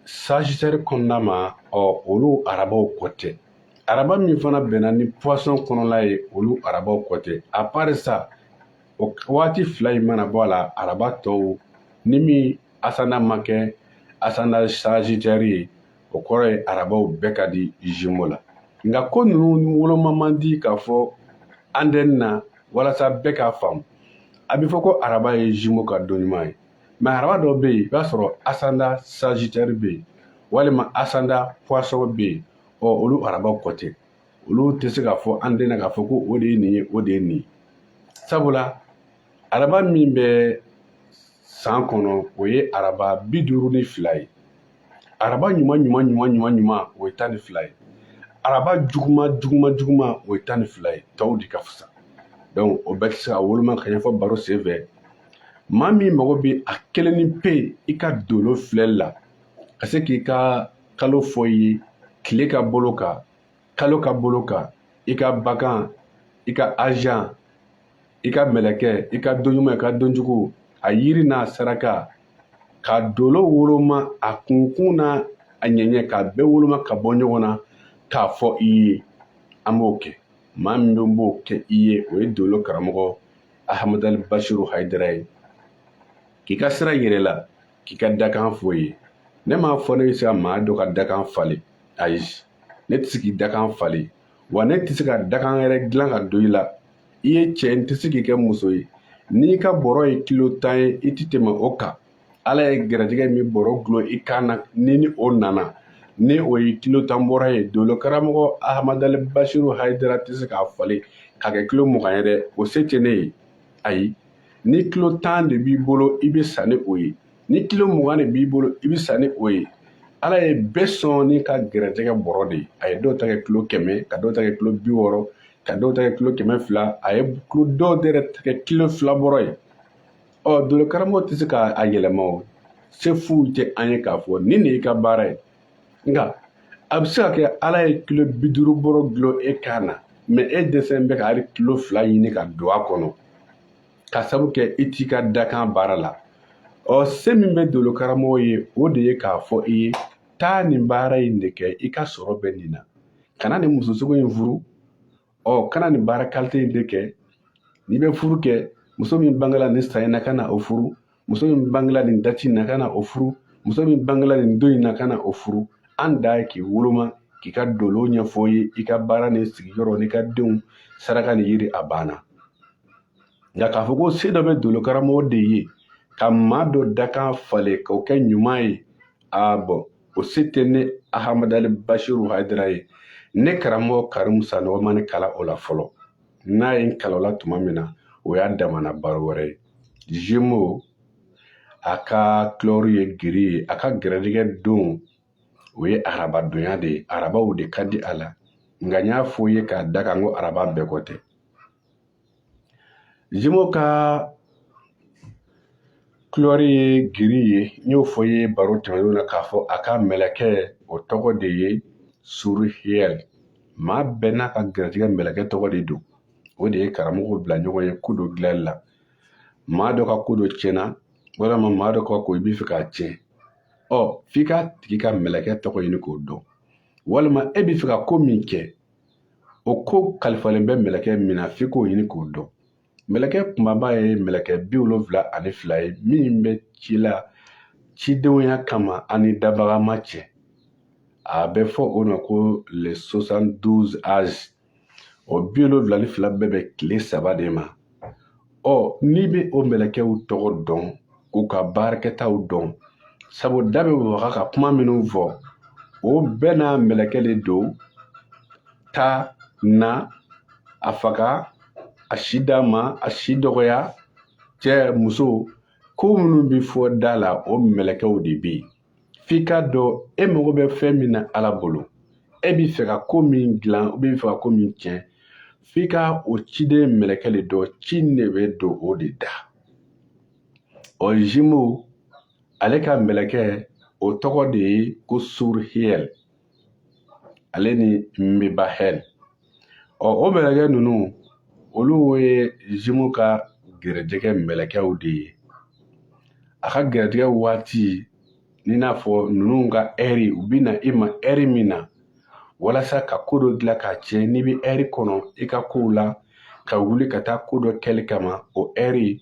sagitɛri kɔnɔna ma ɔ olu arabaw kɔ tɛ araba min fana bɛnna ni poisson kɔnɔla ye olu arabaw kɔ tɛ à part ça o waati fila in mana bɔ a la araba tɔw ni min asanda ma kɛ asanda sagitɛri ye o kɔrɔ ye arabaw bɛɛ ka di zimo la nka ko ninnu woloma man di k'a fɔ antɛni na walasa bɛɛ k'a faamu a bɛ fɔ ko araba ye zimo ka don ɲuman ye mɛ araba dɔ bɛ yen i b'a sɔrɔ asanda sajitɛri bɛ yen walima asanda puwasɔn bɛ yen ɔ olu araba kɔ tɛ olu tɛ se k'a fɔ antɛni na k'a fɔ ko o de ye nin ye o de ye nin ye sabula araba min bɛ san kɔnɔ o ye araba bi duuru ni fila ye araba ɲuman ɲuman ɲuman ɲuman ɲuman o ye tan ni fila ye araba juguman juguman juguman o ye tan ni fila ye tɔw de ka fisa donc o bɛɛ tɛ se ka woloma ka ɲɛfɔ baro sen fɛ maa min mago bɛ a kelennin pe i ka dolo filɛli la ka se k'i ka kalo fɔ i ye tile ka bolo kan kalo ka bolo kan i ka bakan i ka ajan i ka mɛlɛkɛ i ka donɲuman i ka donjugu a yiri n'a saraka ka dolo woloma a kunkun n'a ɲɛɲɛ k'a bɛɛ woloma ka bɔ ɲɔgɔn na k'a fɔ i ye an b'o kɛ maa min b'o kɛ i ye o ye dolo karamɔgɔ ahamadali basiru hayidara ye k'i ka sira yira i la k'i ka dakan fɔ i ye ne m'a fɔ ne bɛ se ka maa dɔ ka dakan falen ayi ne tɛ se k'i dakan falen wa ne tɛ se ka dakan yɛrɛ dilan ka don i la i ye cɛ n tɛ se k'i kɛ muso ye n'i ka bɔrɔ ye kilo tan ye i tɛ tɛmɛ o kan ala ye gɛrɛtigɛ min bɔrɔ gulon i kan na n'i ni o nana ni o ye kilo tan bɔrɔ ye dolo karamɔgɔ ahamadali basiru hayidara tɛ se k'a falen k'a kɛ kilo mugan ye dɛ o se tɛ ne ye ayi ni kilo tan de b'i bolo i bɛ sa ni o ye ni kilo mugan de b'i bolo i bɛ sa ni o ye ala ye bɛɛ sɔn n'i ka gɛrɛtɛgɛ bɔrɔ de ye a ye dɔw ta kɛ kilo kɛmɛ ka dɔw ta kɛ kilo bi wɔɔrɔ ka dɔw ta kɛ kilo kɛmɛ fila a ye dɔw yɛrɛ ta kɛ kilo fila bɔrɔ ye ɔ dolo karamɔgɔ tɛ se k'a yɛlɛma o se foyi tɛ an ye k'a fɔ nin de y'i ka baara ye nka a bɛ se ka kɛ ala ye kilo bi duuru bɔrɔ dulon e kan na mɛ e dɛsɛlen bɛ ka hali kilo fila ɲini ka don a kɔnɔ ka sabu kɛ i t'i ka dakan baara la ɔ se min bɛ dolo karamɔgɔ ye o de ye k'a fɔ i ye taa nin baara in de kɛ i ka sɔrɔ bɛ nin na kana nin muso sugu in furu ɔ kana nin baara kalite in de kɛ n'i bɛ furu kɛ muso min bangela nin san in na kana o furu muso min bangela nin dati in na kana o furu muso min bangela nin don in na kana o furu an ta ye k'i woloma k'i ka dolo ɲɛfɔ i ye i ka baara ni sigiyɔrɔ n'i ka denw saraka ni yiri a banna nka k'a fɔ ko se dɔ bɛ dolo karamɔgɔ de ye ka maa dɔ dakan falen k'o kɛ ɲuman ye a bɔn o se tɛ ne ahamadali basiru hayidara ye ne karamɔgɔ karimu sanɔgɔ ma ne kalan o la fɔlɔ n'a ye n kalan a la tuma min na o y'a damana baro wɛrɛ ye jimo a ka kulɔri ye giri ye a ka gɛrɛdigɛ don o ye arabadonya de ye arabaw de ka di a la nka n y'a fɔ ye k'a da kan ko araba bɛɛ kɔ tɛ jimo ka kulɔri ye giri ye n y'o fɔ ye baro tɛmɛnenw na k'a fɔ a ka mɛlɛkɛ o tɔgɔ de ye surihiyɛli maa bɛɛ n'a ka gɛrɛtigɛ mɛlɛkɛ tɔgɔ de don o de ye karamɔgɔw bila ɲɔgɔn ɲɛ ko dɔ dilanli la maa dɔ ka ko dɔ tiɲɛ na walima maa dɔ ka ko i b'i fɛ k'a tiɲɛ ɔ f'i k'a tigi ka mɛlɛkɛ tɔgɔ ɲini k'o dɔn walima e b'i fɛ ka ko min kɛ o ko kalifalen bɛ mɛlɛkɛ min na f'i k'o ɲini k'o dɔn mɛlɛkɛ kumaba ye mɛlɛkɛ bi wolonfila ani fila ye min bɛ ci la cidenya kama an ni dabaga ma cɛ a bɛ fɔ o ma ko les 72 anges o bi wolonfila ni fila bɛɛ bɛ tile saba de ma ɔ n'i bɛ o mɛlɛkɛw tɔgɔ dɔn k'u ka baarakɛtaw dɔn sabu da bɛ waga ka kuma minnu fɔ o bɛɛ n'a mɛlɛkɛ de don taa na a faga a si d'a ma a si dɔgɔya cɛ muso ko minnu bɛ fɔ da la o mɛlɛkɛw de bɛ yen f'i k'a dɔn e mago bɛ fɛn min na ala bolo e b'i fɛ ka ko min dilan e b'i fɛ ka ko min tiɲɛ f'i ka o ciden mɛlɛkɛ de dɔn ci nin bɛ don o de da ɔ zimo ale ka mɛlɛkɛ o tɔgɔ de ye ko surhiyɛl ale ni mebahɛl ɔ o mɛlɛkɛ ninnu olu ye zimo ka gɛrɛjɛgɛ mɛlɛkɛw de ye a ka gɛrɛjɛgɛ waati n'i n'a fɔ ninnu ka ɛri u bɛ na i ma ɛri min na walasa ka ko dɔ dilan k'a tiɲɛ n'i bɛ ɛri kɔnɔ i ka kow la ka wuli ka taa ko dɔ kɛli kama o ɛri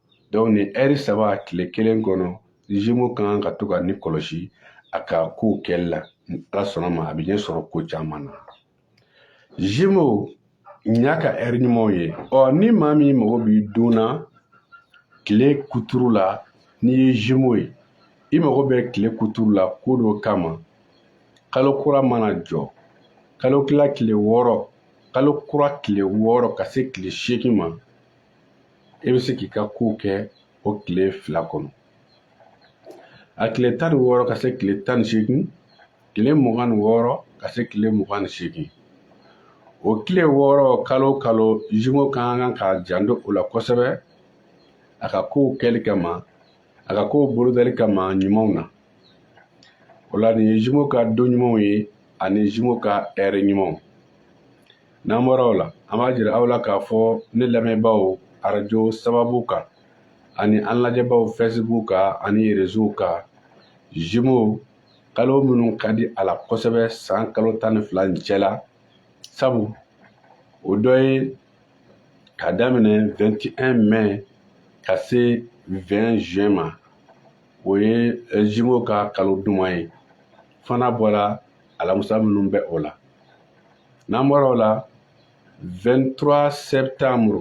donc nin ɛri saba tile kelen kɔnɔ zimo ka kan ka to ka nin kɔlɔsi a ka kow kɛli la ni ala sɔnna ma a bɛ ɲɛ sɔrɔ ko caman na zimo nin y'a ka ɛri ɲumanw ye ɔ ni maa min mago b'i don na tile kuturu la n'i ye zimo ye i mago bɛ tile kuturu la ko dɔ kama kalo kura mana jɔ kalo tila tile wɔɔrɔ kalo kura tile wɔɔrɔ ka se tile seegin ma i bɛ se k'i ka kow kɛ o tile fila kɔnɔ a tile tan ni wɔɔrɔ ka se tile tan ni seegin tile mugan ni wɔɔrɔ ka se tile mugan ni seegin o tile wɔɔrɔ kalo kalo zimo ka kan ka janto o la kosɛbɛ a ka kow kɛli kama a ka kow bolodali kama ɲumanw na o la nin ye zimo ka don ɲumanw ye ani zimo ka ɛri ɲumanw n'an bɔra o la an b'a jira aw la k'a fɔ ne lamɛnbaaw arajo sababu kan ani an lajɛbaaw Facebook kan ani réseaux kan zimo kalo minnu ka di a la kosɛbɛ san kalo tan ni fila nin cɛ la sabu o dɔ ye ka daminɛ 21 mai ka se 20 juin ma o ye zimo ka kalo duman ye fo n'a bɔra alamusa minnu bɛ o la n'an bɔra o la 23 septembre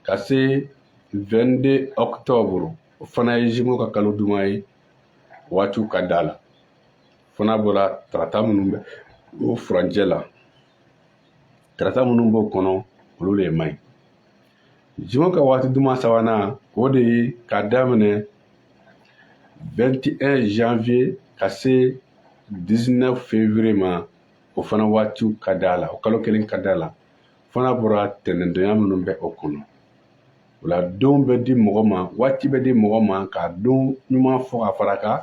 ka se 22 octobre o fana ye zimo ka kalo duman ye waatiw ka d'a la fo n'a bɔra tarata minnu bɛ o furancɛ la tarata minnu b'o kɔnɔ olu le man ɲi zimo ka waati duman sabanan o de ye ka daminɛ 21 janvier ka se 19 février ma o fana waatiw ka d'a la o kalo kelen ka d'a la fo n'a bɔra tɛnɛndonya minnu bɛ o kɔnɔ o la don bɛ di mɔgɔ ma waati bɛ di mɔgɔ ma k'a don ɲuman fɔ ka fara kan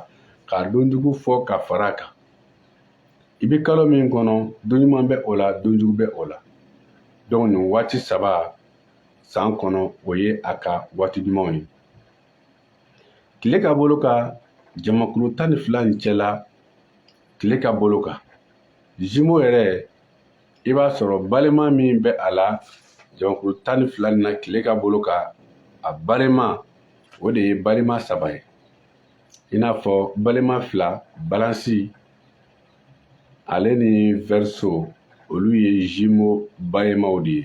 k'a don jugu fɔ ka fara a kan i bɛ kalo min kɔnɔ don ɲuman bɛ o la don jugu bɛ o la dɔnku nin waati saba san kɔnɔ o ye a ka waati ɲumanw ye tile ka bolo kan jamakulu tan ni fila nin cɛla tile ka bolo kan zimo yɛrɛ i b'a sɔrɔ balima min bɛ a la jamakulu tan ni fila nin na tile ka bolo kan a balima o de ye balima saba ye i n'a fɔ balima fila balansi ale ni vɛriso olu ye zimo balimaw de ye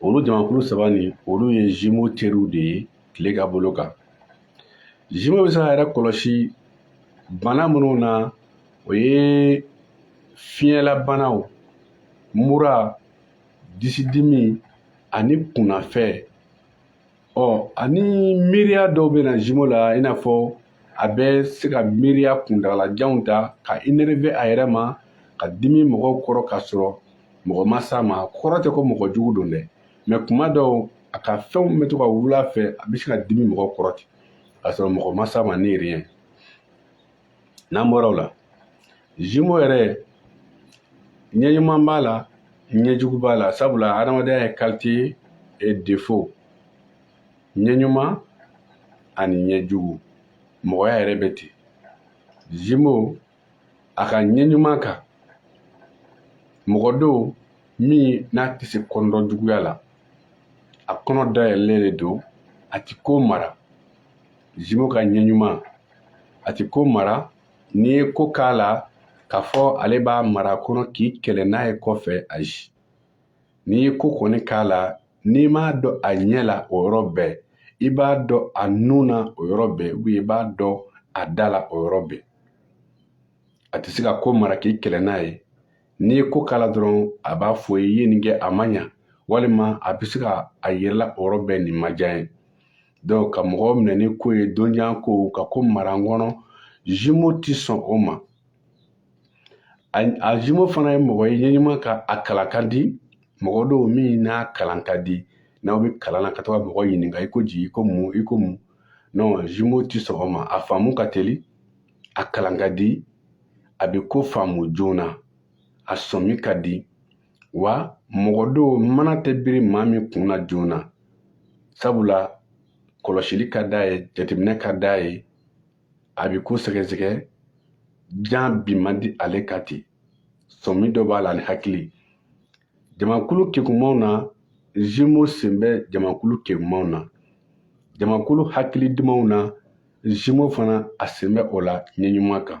olu jamakulu saba nin olu ye zimo teriw de ye tile ka bolo kan zimo bɛ se k'a yɛrɛ kɔlɔsi bana minnu na o ye fiɲɛlabanaw mura disidimi ani kunnafɛ ɔ ani miiriya dɔw bɛ na zimo la i n'a fɔ a bɛ se ka miiriya kuntagalajanw ta ka enereve a yɛrɛ ma ka dimi mɔgɔw kɔrɔ ka sɔrɔ mɔgɔ ma s'a ma kɔrɔ tɛ ko mɔgɔ jugu don dɛ mɛ kuma dɔw a ka fɛnw bɛ to ka wuli a fɛ a bɛ se ka dimi mɔgɔw kɔrɔ ten ka sɔrɔ mɔgɔ ma s'a ma ni riyɛn n'an bɔra o la zimo yɛrɛ ɲɛ ɲuman b'a la ɲɛ jugu b'a la sabula hadamadenya ye kalite e defo ɲɛ ɲuman ani ɲɛ jugu mɔgɔya yɛrɛ bɛ ten zimo a ka ɲɛ ɲuman kan mɔgɔ don min n'a tɛ se kɔnɔdɔ juguya la a kɔnɔ dayɛlɛlen de don a ti ko mara zimo ka ɲɛ ɲuman a ti ko mara n'i ye ko k'a la k'a fɔ ale b'a mara kɔnɔ k'i kɛlɛ n'a ye kɔfɛ ayi n'i ye ko kɔni k'a la n'i m'a dɔn a ɲɛ la o yɔrɔ bɛɛ i b'a dɔn a nun na o yɔrɔ bɛɛ ubiyɛn i b'a dɔn a da la o yɔrɔ bɛɛ a tɛ se ka ko mara k'i kɛlɛ n'a ye n'i ye ko k'a la dɔrɔn a b'a fɔ i ye nin kɛ a ma ɲa walima a bɛ se ka a yira i la o yɔrɔ bɛɛ nin ma diya ye dɔnku ka mɔgɔw minɛ ni ko ye don jan ko ka ko mara n kɔnɔ zimo ti sɔn o ma a zimo fana ye mɔgɔ ye ɲɛɲuman kan a kalan ka di mɔgɔ don min n'a kalan ka di n'aw bɛ kalan na ka to ka mɔgɔ ɲininka i ko di i ko mun i ko mun non zimo ti sɔn o ma a faamu ka teli a kalan ka di a bɛ ko faamu joona a sɔmi ka di wa mɔgɔ don mana tɛ biri maa min kun na joona sabula kɔlɔsili ka d'a ye jateminɛ ka d'a ye a bɛ ko sɛgɛsɛgɛ jan bi man di ale ka ten sɔmi dɔ b'a la ani hakili jamakulu kekumanw na zimo sen bɛ jamakulu kekumanw na jamakulu hakili dumanw na zimo fana a sen bɛ o la ɲɛɲuman kan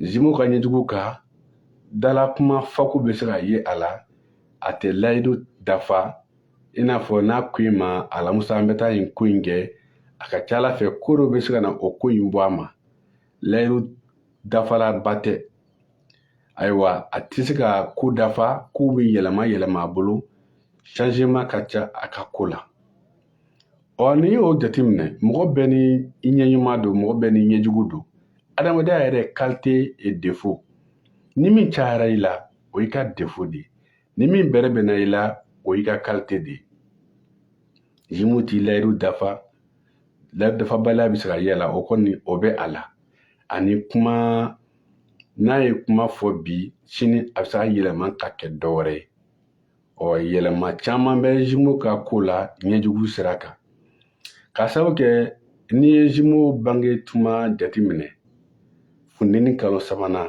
zimu ka ɲɛjugu kan dala kuma fako bɛ se ka ye a la a tɛ layidu dafa i n'a fɔ n'a ko i ma alamusa an bɛ taa nin ko in kɛ a ka ca a la fɛ ko dɔ bɛ se ka na o ko in bɔ a ma layidu dafalaba tɛ ayiwa a tɛ se ka ko dafa kow bɛ yɛlɛma yɛlɛma a bolo changement ka ca a ka ko la ɔ n'i y'o jateminɛ mɔgɔ bɛɛ ni i ɲɛɲuman don mɔgɔ bɛɛ n'i ɲɛjugu don adamadenya yɛrɛ kalite e defo ni min cayara i la o y'i ka defo de ye ni min bɛrɛbɛnna i la o y'i ka kalite de ye jimu ti layiru dafa layiru dafabaliya bɛ se ka ye a la o kɔni o bɛ a la ani kuma n'a ye kuma fɔ bi sini a bɛ se ka yɛlɛma ka kɛ dɔ wɛrɛ ye ɔ yɛlɛma caman bɛ zimo ka ko la ɲɛjugu sira kan k'a sabu kɛ n'i ye zimo bange tuma jateminɛ funteni kalo sabanan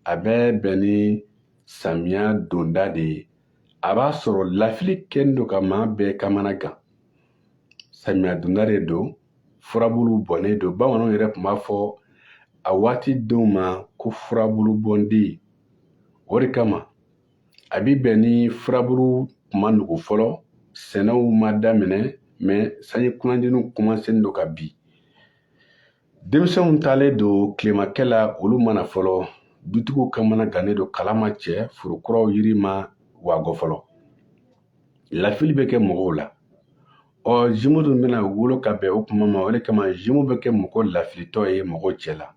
a bɛ bɛn ni samiya donda de ye a b'a sɔrɔ lafili kɛlen don ka maa bɛɛ kamana gan samiya donda de don furabulu bɔnnen don bamananw yɛrɛ tun b'a fɔ a waati denw ma ko furabulu bɔnden o de kama a bi bɛn ni furaburu tuma nugu fɔlɔ sɛnɛw ma daminɛ mɛ sanji kunandiniw kɔmansen don ka bin denmisɛnw taalen don tilemakɛ la olu ma na fɔlɔ dutigiw kamana gannen don kala ma cɛ foro kuraw yiri ma wagɔ fɔlɔ lafili bɛ kɛ mɔgɔw la ɔ zimu dun bɛna wolo ka bɛn o kuma ma o de kama zimu bɛ kɛ mɔgɔ lafilitɔ ye mɔgɔw cɛ la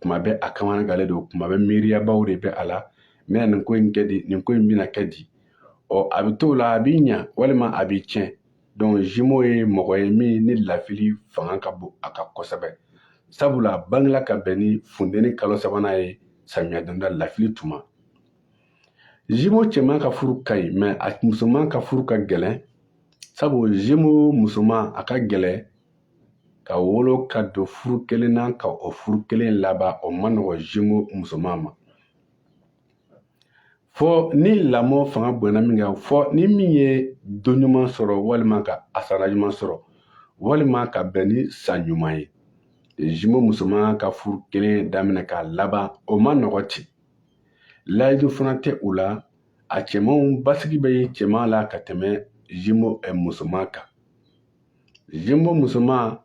kuma bɛɛ a kamana gannen don kuma bɛɛ miiriyabaw de bɛ a la n bɛna nin ko in kɛ di nin ko in bɛna kɛ di ɔ a bɛ t'o la a bi ɲa walima a bi tiɲɛ dɔnku zimo ye mɔgɔ ye min ni lafili fanga ka bon a kan kosɛbɛ sabula a bangela ka bɛn ni funteni kalo sabanan ye samiya donda lafili tuma jumeau cɛman ka furu ka ɲi mais a musoman ka furu ka gɛlɛn sabu jumeau musoman a ka gɛlɛn ka wolo ka don furu kelen na ka o furu kelen laban o ma nɔgɔ jumeau musoman ma fɔ ni lamɔ fanga bonyana min kan fɔ ni min ye don ɲuman sɔrɔ walima ka ascendant ɲuman sɔrɔ walima ka bɛn ni san ɲuman ye jumeau musoman ka furu kelen daminɛ k'a laban o ma nɔgɔ ten layidu fana tɛ u la a cɛmanw basigi bɛ ye cɛman la ka tɛmɛ jumeau eh, musoman kan jumeau musoman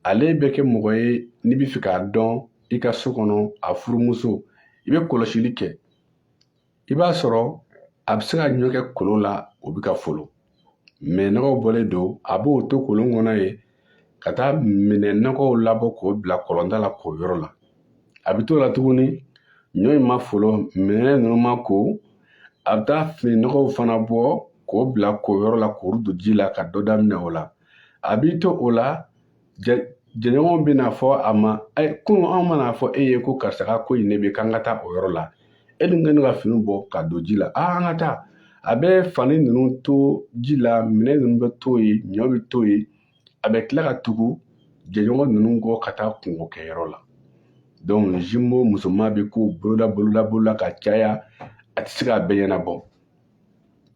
ale bɛ kɛ mɔgɔ ye n'i bɛ fɛ k'a dɔn i ka so kɔnɔ a furumuso i bɛ kɔlɔsili kɛ i b'a sɔrɔ a bɛ se ka ɲɔ kɛ kolon la o bɛ ka folo minɛn nɔgɔw bɔlen don a b'o to kolon kɔnɔ yen ka taa minɛn nɔgɔw labɔ k'o bila kɔlɔnda la koyɔrɔ la a b'i to o la tuguni ɲɔ in ma folo minɛn ninnu ma ko a bɛ taa fini nɔgɔw fana bɔ k'o bila koyɔrɔ la k'o don ji la ka dɔ daminɛ o la a b'i to o la jɛɲɔgɔnw bɛna fɔ a ma ɛ kunun anw ma n'a fɔ e ye ko karisa ka ko in ne bɛ k'an ka taa o yɔrɔ la e dun kɛlen ka fini bɔ ka don ji la aa an ka taa a bɛ fani ninnu to ji la minɛn ninnu bɛ to yen ɲɔ bɛ to yen a bɛ tila ka tugu jɛɲɔgɔn ninnu kɔ ka taa kunko kɛyɔrɔ la donc jumeau musoman bɛ kow bolola bolola bolola ka caya a tɛ se k'a bɛɛ ɲɛnabɔ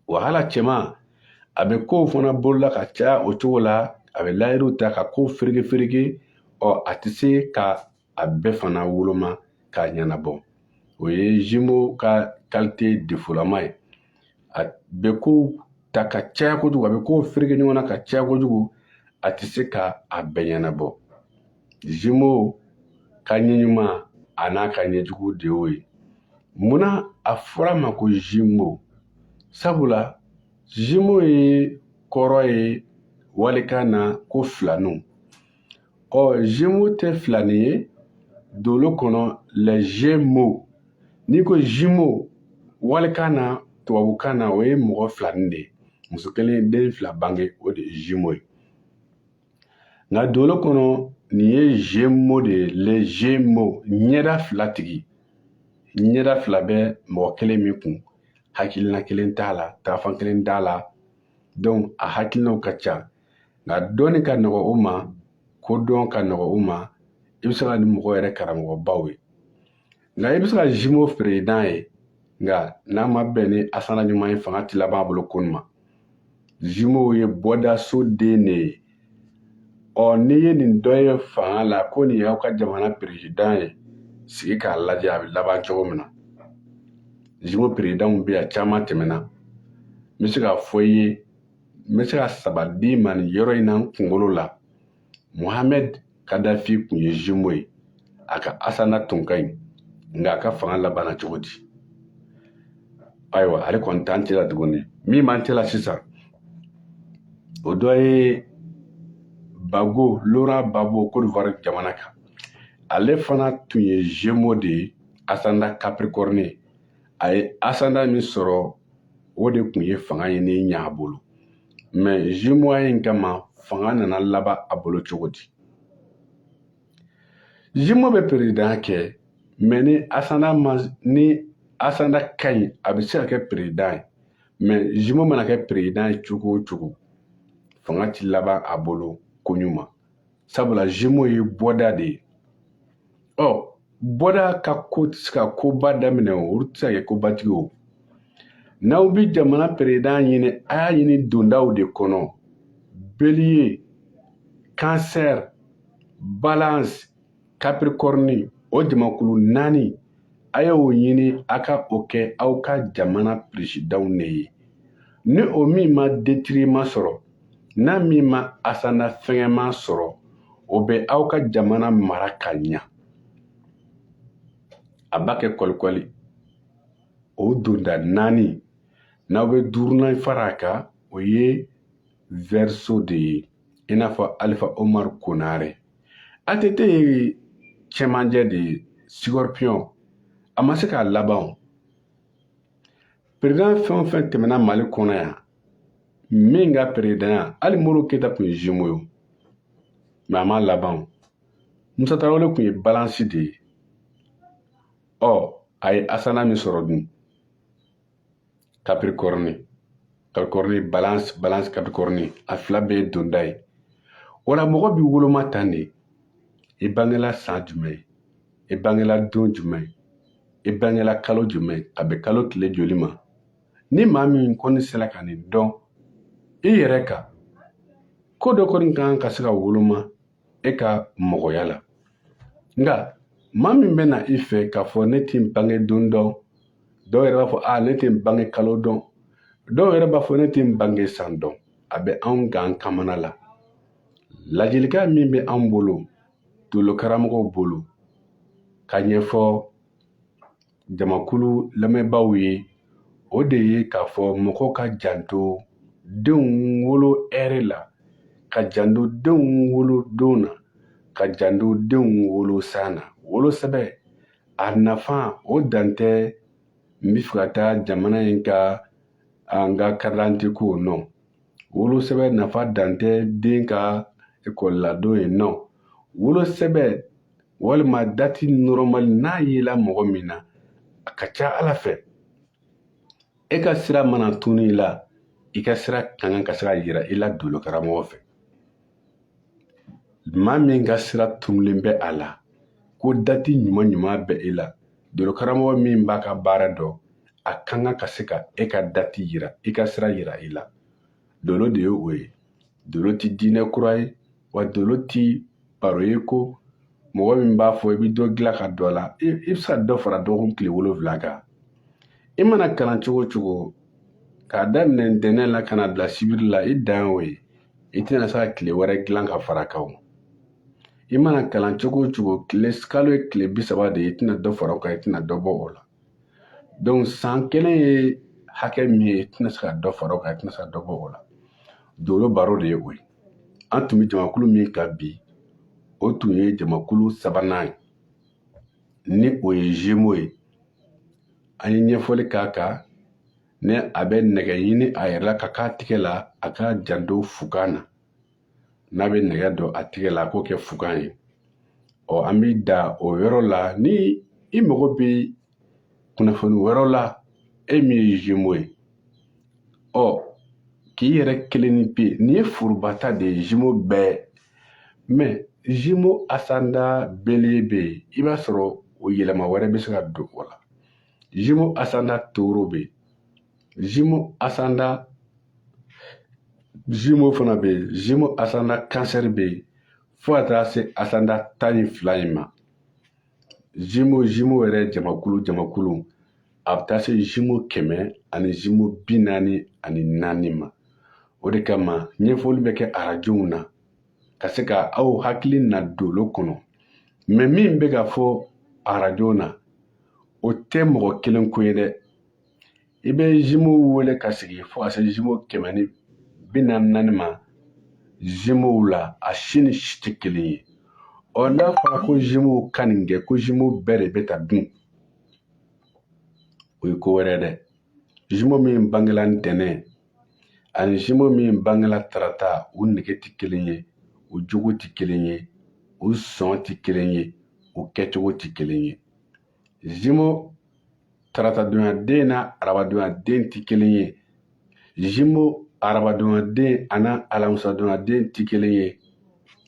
wa hali a cɛman a bɛ kow fana bolola ka caya o cogo la a bɛ layidu ta ka kow fereke fereke ɔ a tɛ se ka a bɛɛ fana woloma k'a ɲɛnabɔ o ye jumeau ka qualité défautlama ye a bɛ kow ta ka caya kojugu a bɛ kow fereke ɲɔgɔn na ka caya kojugu a tɛ se ka a bɛɛ ɲɛnabɔ jumeau ka ɲɛ ɲuman a n'a ka ɲɛjugu de y'o ye munna a fɔra a ma ko jumeau sabula jumeau ye kɔrɔ ye walikan na ko filaninw ɔ gémeaux tɛ filanin ye dolo kɔnɔ les gémeaux n'i ko jumeau walikan na tubabukan na o ye mɔgɔ filanin de ye muso kelen ye den fila bange o de ye jumeau ye nka dolo kɔnɔ nin ye gémeaux de ye les gémeaux ɲɛda fila tigi ɲɛda fila bɛ mɔgɔ kelen min kun hakilina kelen t'a la taafan kelen t'a la donc a hakilinaw ka ca nka dɔnni ka nɔgɔ u ma kodɔn ka nɔgɔ u ma i bɛ se ka ni mɔgɔ yɛrɛ karamɔgɔbaw ye Nka i bɛ se ka zimo perezidan ye nka n'a ma bɛn ni asana ɲuman ye fanga ti laban a bolo ko ɲuman zimo ye bɔda so den de ye ɔ n'i ye nin dɔ ye fanga la ko nin y'aw ka jamana perezidan ye sigi k'a lajɛ a bɛ laban cogo min na zimo perezidanw bɛ yan caman tɛmɛna n bɛ se k'a fɔ i ye n bɛ se ka saba d'i ma nin yɔrɔ in na n kunkolo la muhamɛd kadafi tun ye zimo ye a ka asana tun ka ɲi nka a ka fanga labanna cogo di ayiwa ale kɔni t'an cɛla tuguni min b'an cɛla sisan o dɔ ye gbagbo laurent gbagbo kodivuwari jamana kan ale fana tun ye zimo de ye asanda capricorne a ye asanda min sɔrɔ o de tun ye fanga ɲini ɲɛ a bolo mɛ zimoya in kama fanga nana laban a bolo cogo di zimo bɛ perezidan kɛ mɛ ni asanda ma ni asanda ka ɲi a bɛ se ka kɛ perezidan ye mɛ zimo mana kɛ perezidan ye cogo o cogo fanga ti laban a bolo ko ɲuman sabula zimo ye bɔda de ye ɔ bɔda ka ko tɛ se ka koba daminɛ o olu tɛ se ka kɛ kobatigi o n'aw bɛ jamana perezidan ɲini a y'a ɲini dondaw de kɔnɔ beliye kansɛri balansi kapirikɔrɔni o jamakulu naani a y'o ɲini a ka o kɛ aw ka jamana perezidanw ne ye ni o min ma detiriman sɔrɔ n'a min ma asana fɛgɛnman sɔrɔ o bɛ aw ka jamana mara ka ɲa a b'a kɛ kɔlikɔli o donda naani n'aw bɛ duurunan fara a kan o ye vɛriso de ye i n'a fɔ alifa omar konare ATT ye cɛmanjɛ de ye Sikɔripiyɔn a ma se k'a laban o perezidan fɛn o fɛn tɛmɛna mali kɔnɔ yan min ka perezidanya hali modibo keyita tun ye zimo ye mɛ a ma laban o musa tarawele tun ye balansi de ye ɔ a ye asana min sɔrɔ dun kapirikɔrɔni kapirikɔrɔni balansi balansi kapirikɔrɔni a fila bɛɛ ye donda ye o la mɔgɔ b'i woloma tan de i bangela san jumɛn i bangela don jumɛn i bangela kalo jumɛn a bɛ kalo tile joli ma ni maa min kɔni sera ka nin dɔn i yɛrɛ ka ko dɔ kɔni kan ka se ka woloma e ka mɔgɔya la nka maa min bɛ na i fɛ k'a fɔ ne tɛ n bange don dɔn dɔw yɛrɛ b'a fɔ a ne tɛ n bange kalo dɔn dɔw yɛrɛ b'a fɔ ne tɛ n bange san dɔn a bɛ anw gan kamana la ladilikan min bɛ anw bolo dolokaramɔgɔw bolo ka ɲɛfɔ jamakulu lamɛnbaaw ye o de ye k'a fɔ mɔgɔ ka janto denw wolo ɛri la ka janto denw wolo don na ka janto denw wolo san na wolosɛbɛ a nafa o dan tɛ n bɛ fɛ ka taa jamana in ka an ka karidante ko nɔ wolosɛbɛ nafa dan tɛ den ka ekɔliladon ye nɔ wolosɛbɛ walima dati nɔrɔmali n'a yela mɔgɔ min na a ka ca ala fɛ e ka sira mana tunu i la i ka sira ka kan ka se ka yira i la dolo karamɔgɔ fɛ maa min ka sira tunulen bɛ a la ko dati ɲuman ɲuman bɛ e la dolo karamɔgɔ min b'a ka baara dɔn a ka kan ka se ka e ka dati yira i ka sira yira i la dolo de ye o ye dolo ti diinɛ kura ye wa dolo ti baro ye ko mɔgɔ min b'a fɔ i bɛ dɔ dilan ka dɔ la i bɛ se ka dɔ fara dɔgɔkun tile wolonwula kan i mana kalan cogo o cogo k'a daminɛ ntɛnɛn la ka n'a bila sibiri la i dan y'o ye i tɛna se ka tile wɛrɛ dilan ka fara kan o i mana kalan cogo o cogo tile kalo ye tile bi saba de ye i tɛna dɔ fara o kan i tɛna dɔ bɔ o la donc san kelen ye hakɛ min ye i tɛna se ka dɔ fara o kan i tɛna se ka dɔ bɔ o la dolo baro de ye o ye an tun bɛ jamakulu min kan bi o tun ye jamakulu sabanan ye ni o ye zemo ye an ye ɲɛfɔli k'a kan ni a bɛ nɛgɛ ɲini a yɛrɛ la ka k'a tigɛ la a ka janto fugan na n'a bɛ nɛgɛ don a tigɛ la a k'o kɛ fugan ye ɔ an bɛ dan o yɔrɔ la ni i mago bɛ kunnafoni wɛrɛw la e min ye zemo ye ɔ k'i yɛrɛ kelennin pe nin ye forobata de ye zemo bɛɛ mɛ zemo asanda beliye bɛ yen i b'a sɔrɔ o yɛlɛma wɛrɛ bɛ se ka don o la Jimo Asanda Toro bɛ yen Jimo Asanda Jimo fana bɛ yen Jimo Asanda kansɛri bɛ yen fo ka taa se Asanda tan ni fila in ma Jimo Jimo yɛrɛ jamakulu jamakulu a bɛ taa se Jimo kɛmɛ ani Jimo bi naani ani naani ma o de kama ɲɛfɔli bɛ kɛ arajow na ka se ka aw hakili na dolo kɔnɔ mɛ min bɛ ka fɔ arajo na o tɛ mɔgɔ kelen ko ye dɛ i bɛ zimu wele ka sigi fo ka se zimu kɛmɛ ni bi naani ni naani ma zimuw la a si ni si tɛ kelen ye ɔ n'a fɔra ko zimuw ka nin kɛ ko zimuw bɛɛ de bɛɛ ta don o ye ko wɛrɛ dɛ zimu min bangela ntɛnɛn ani zimo min bangela tarata u nege tɛ kelen ye u jogo tɛ kelen ye u sɔn tɛ kelen ye u kɛcogo tɛ kelen ye zimo taratadonyaden ni arabadonyaden tɛ kelen ye zimo arabadonyaden ani alamisadonyaden tɛ kelen ye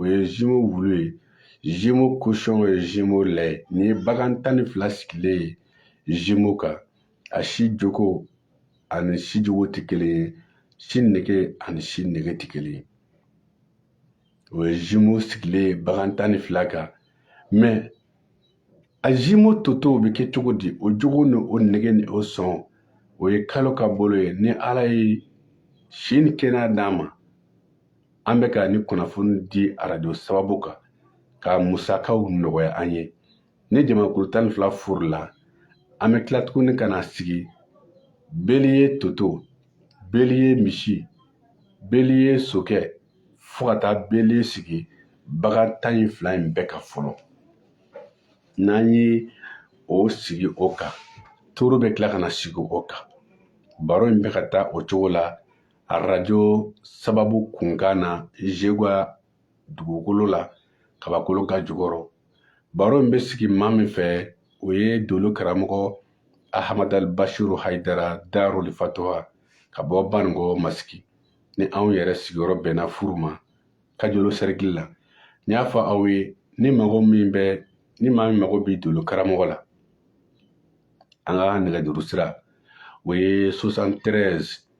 o ye zimo wulu ye zimo kosɔn o ye zimo lɛ ye nin ye bagan tan ni fila sigilen ye zimo kan a si jogo ani si jogo tɛ kelen ye si nege ani si nege tɛ kelen ye o ye zimo sigilen ye bagan tan ni fila kan mɛ a zimo totow bɛ kɛ cogo di o jogo ni o nege ni o sɔn o ye kalo ka bolo ye ni ala ye si ni kɛnɛya d'an ma an bɛ ka nin kunnafoni di arajo sababu kan ka musakaw nɔgɔya an ye ni jamakulu tan ni fila furula an bɛ tila tuguni ka na sigi beli ye toto beli ye misi beli ye sokɛ fo ka taa beli sigi bagan tan ni fila in bɛɛ kan fɔlɔ n'an ye o sigi o kan toro bɛ tila ka na sigi o kan baro in bɛ ka taa o cogo la arajo sababu kunkan na zegwa dugukolo la kabakolo ka jukɔrɔ baro in bɛ sigi maa min fɛ o ye dolo karamɔgɔ ahamadal bashiru haidara darul fatoha ka bɔ banikɔ masigi ni anw yɛrɛ sigiyɔrɔ bɛnna furu ma kajolo sɛrikili la n y'a fɔ aw ye ni maa min mago bɛ dolo karamɔgɔ la an ka nɛgɛjuru sira o ye 73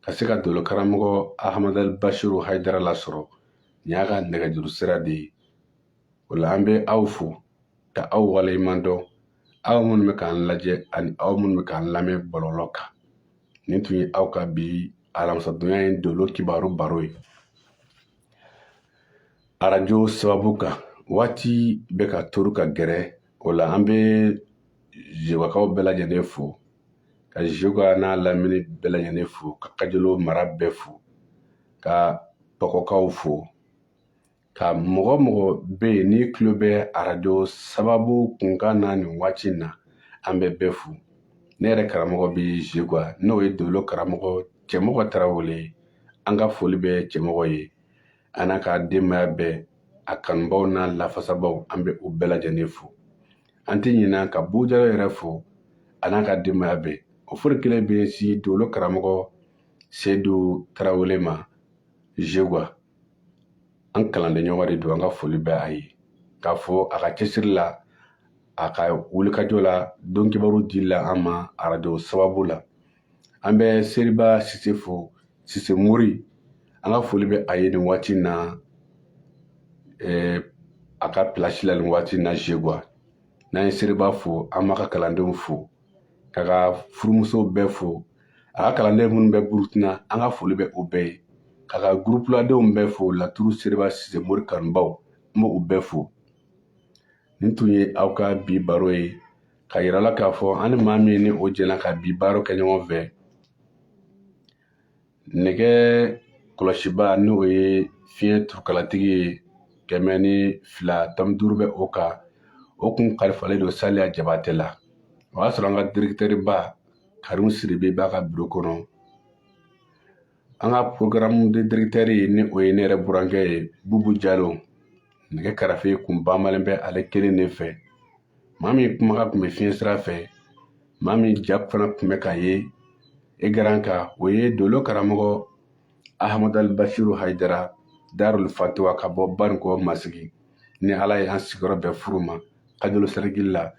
ka se ka dolo karamɔgɔ ahamadal bashiru haidara lasɔrɔ nin y'a ka nɛgɛjuru sira de ye o la an bɛ aw fo ka aw waleɲuman dɔn aw minnu bɛ k'an lajɛ ani aw minnu bɛ k'an lamɛn bɔlɔlɔ kan nin tun ye aw ka bi alamisadonya ye dolo kibaru baro ye arajo sababu kan waati bɛ ka toru ka gɛrɛ o la an bɛ zegwakaw bɛɛ lajɛlen fo ka zegwa n'a lamini bɛɛ lajɛlen fo ka kajolo mara bɛɛ fo ka pɔgɔkaw fo ka mɔgɔ mɔgɔ bɛ yen n'i tulo bɛ arajo sababu kunkan na nin waati in na an bɛ bɛɛ fo ne yɛrɛ karamɔgɔ bɛ zegwa n'o ye dolo karamɔgɔ cɛmɔgɔ tarawele an ka foli bɛ cɛmɔgɔ ye a n'a ka denbaya bɛɛ a kanubaaw n'a lafasabaaw an bɛ u bɛɛ lajɛlen fo an tɛ ɲinɛ ka bujalo yɛrɛ fo a n'a ka denbaya bɛɛ o foli kelen bɛ se dolo karamɔgɔ sedu tarawele ma zeguwa an kalanden ɲɔgɔn de don an ka foli bɛ a ye k'a fɔ a ka cɛsiri la a ka wulikajɔ la don kibaru dili la an ma arajo sababu la an bɛ seriba sise fo sise mori an ka foli bɛ a ye nin waati na a ka pilasi la nin waati na zeguwa n'an ye seriba fo an b'a ka kalandenw fo k'a ka furumusow bɛɛ fo a ka kalanden minnu bɛ burukina an ka foli bɛ u bɛɛ ye k'a ka gurupuladenw bɛɛ fo laturu seriba sise mori kanubaw n b'u bɛɛ fo nin tun ye aw ka bi baro ye k'a yira la k'a fɔ an ni maa minnu jɛna ka bi baro kɛ ɲɔgɔn fɛ nɛgɛ kɔlɔsibaa n'o ye fiɲɛ turukalatigi ye kɛmɛ ni fila tɔmi duuru bɛ o kan o kun kalifalen don saliya jabatɛ la o y'a sɔrɔ an ka directeur ba karimu sidibe b'a ka biro kɔnɔ an ka programme de directeur ye ni o ye ne yɛrɛ burankɛ ye bubu jalo nɛgɛ karafe kun banbalen bɛ ale kelen de fɛ maa min kumakan kun bɛ fiɲɛ sira fɛ maa min ja fana kun bɛ ka ye écran kan o ye dolo karamɔgɔ ahamadal bashiru haidara darul fatuwa ka bɔ banikɔ masigi ni ala ye an sigiyɔrɔ bɛn furu ma kajolo sɛrikili la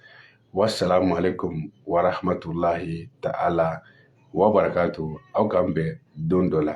wasalamu alaikum warahmatulahi ta'ala wa barakatu aw k'an bɛn don dɔ la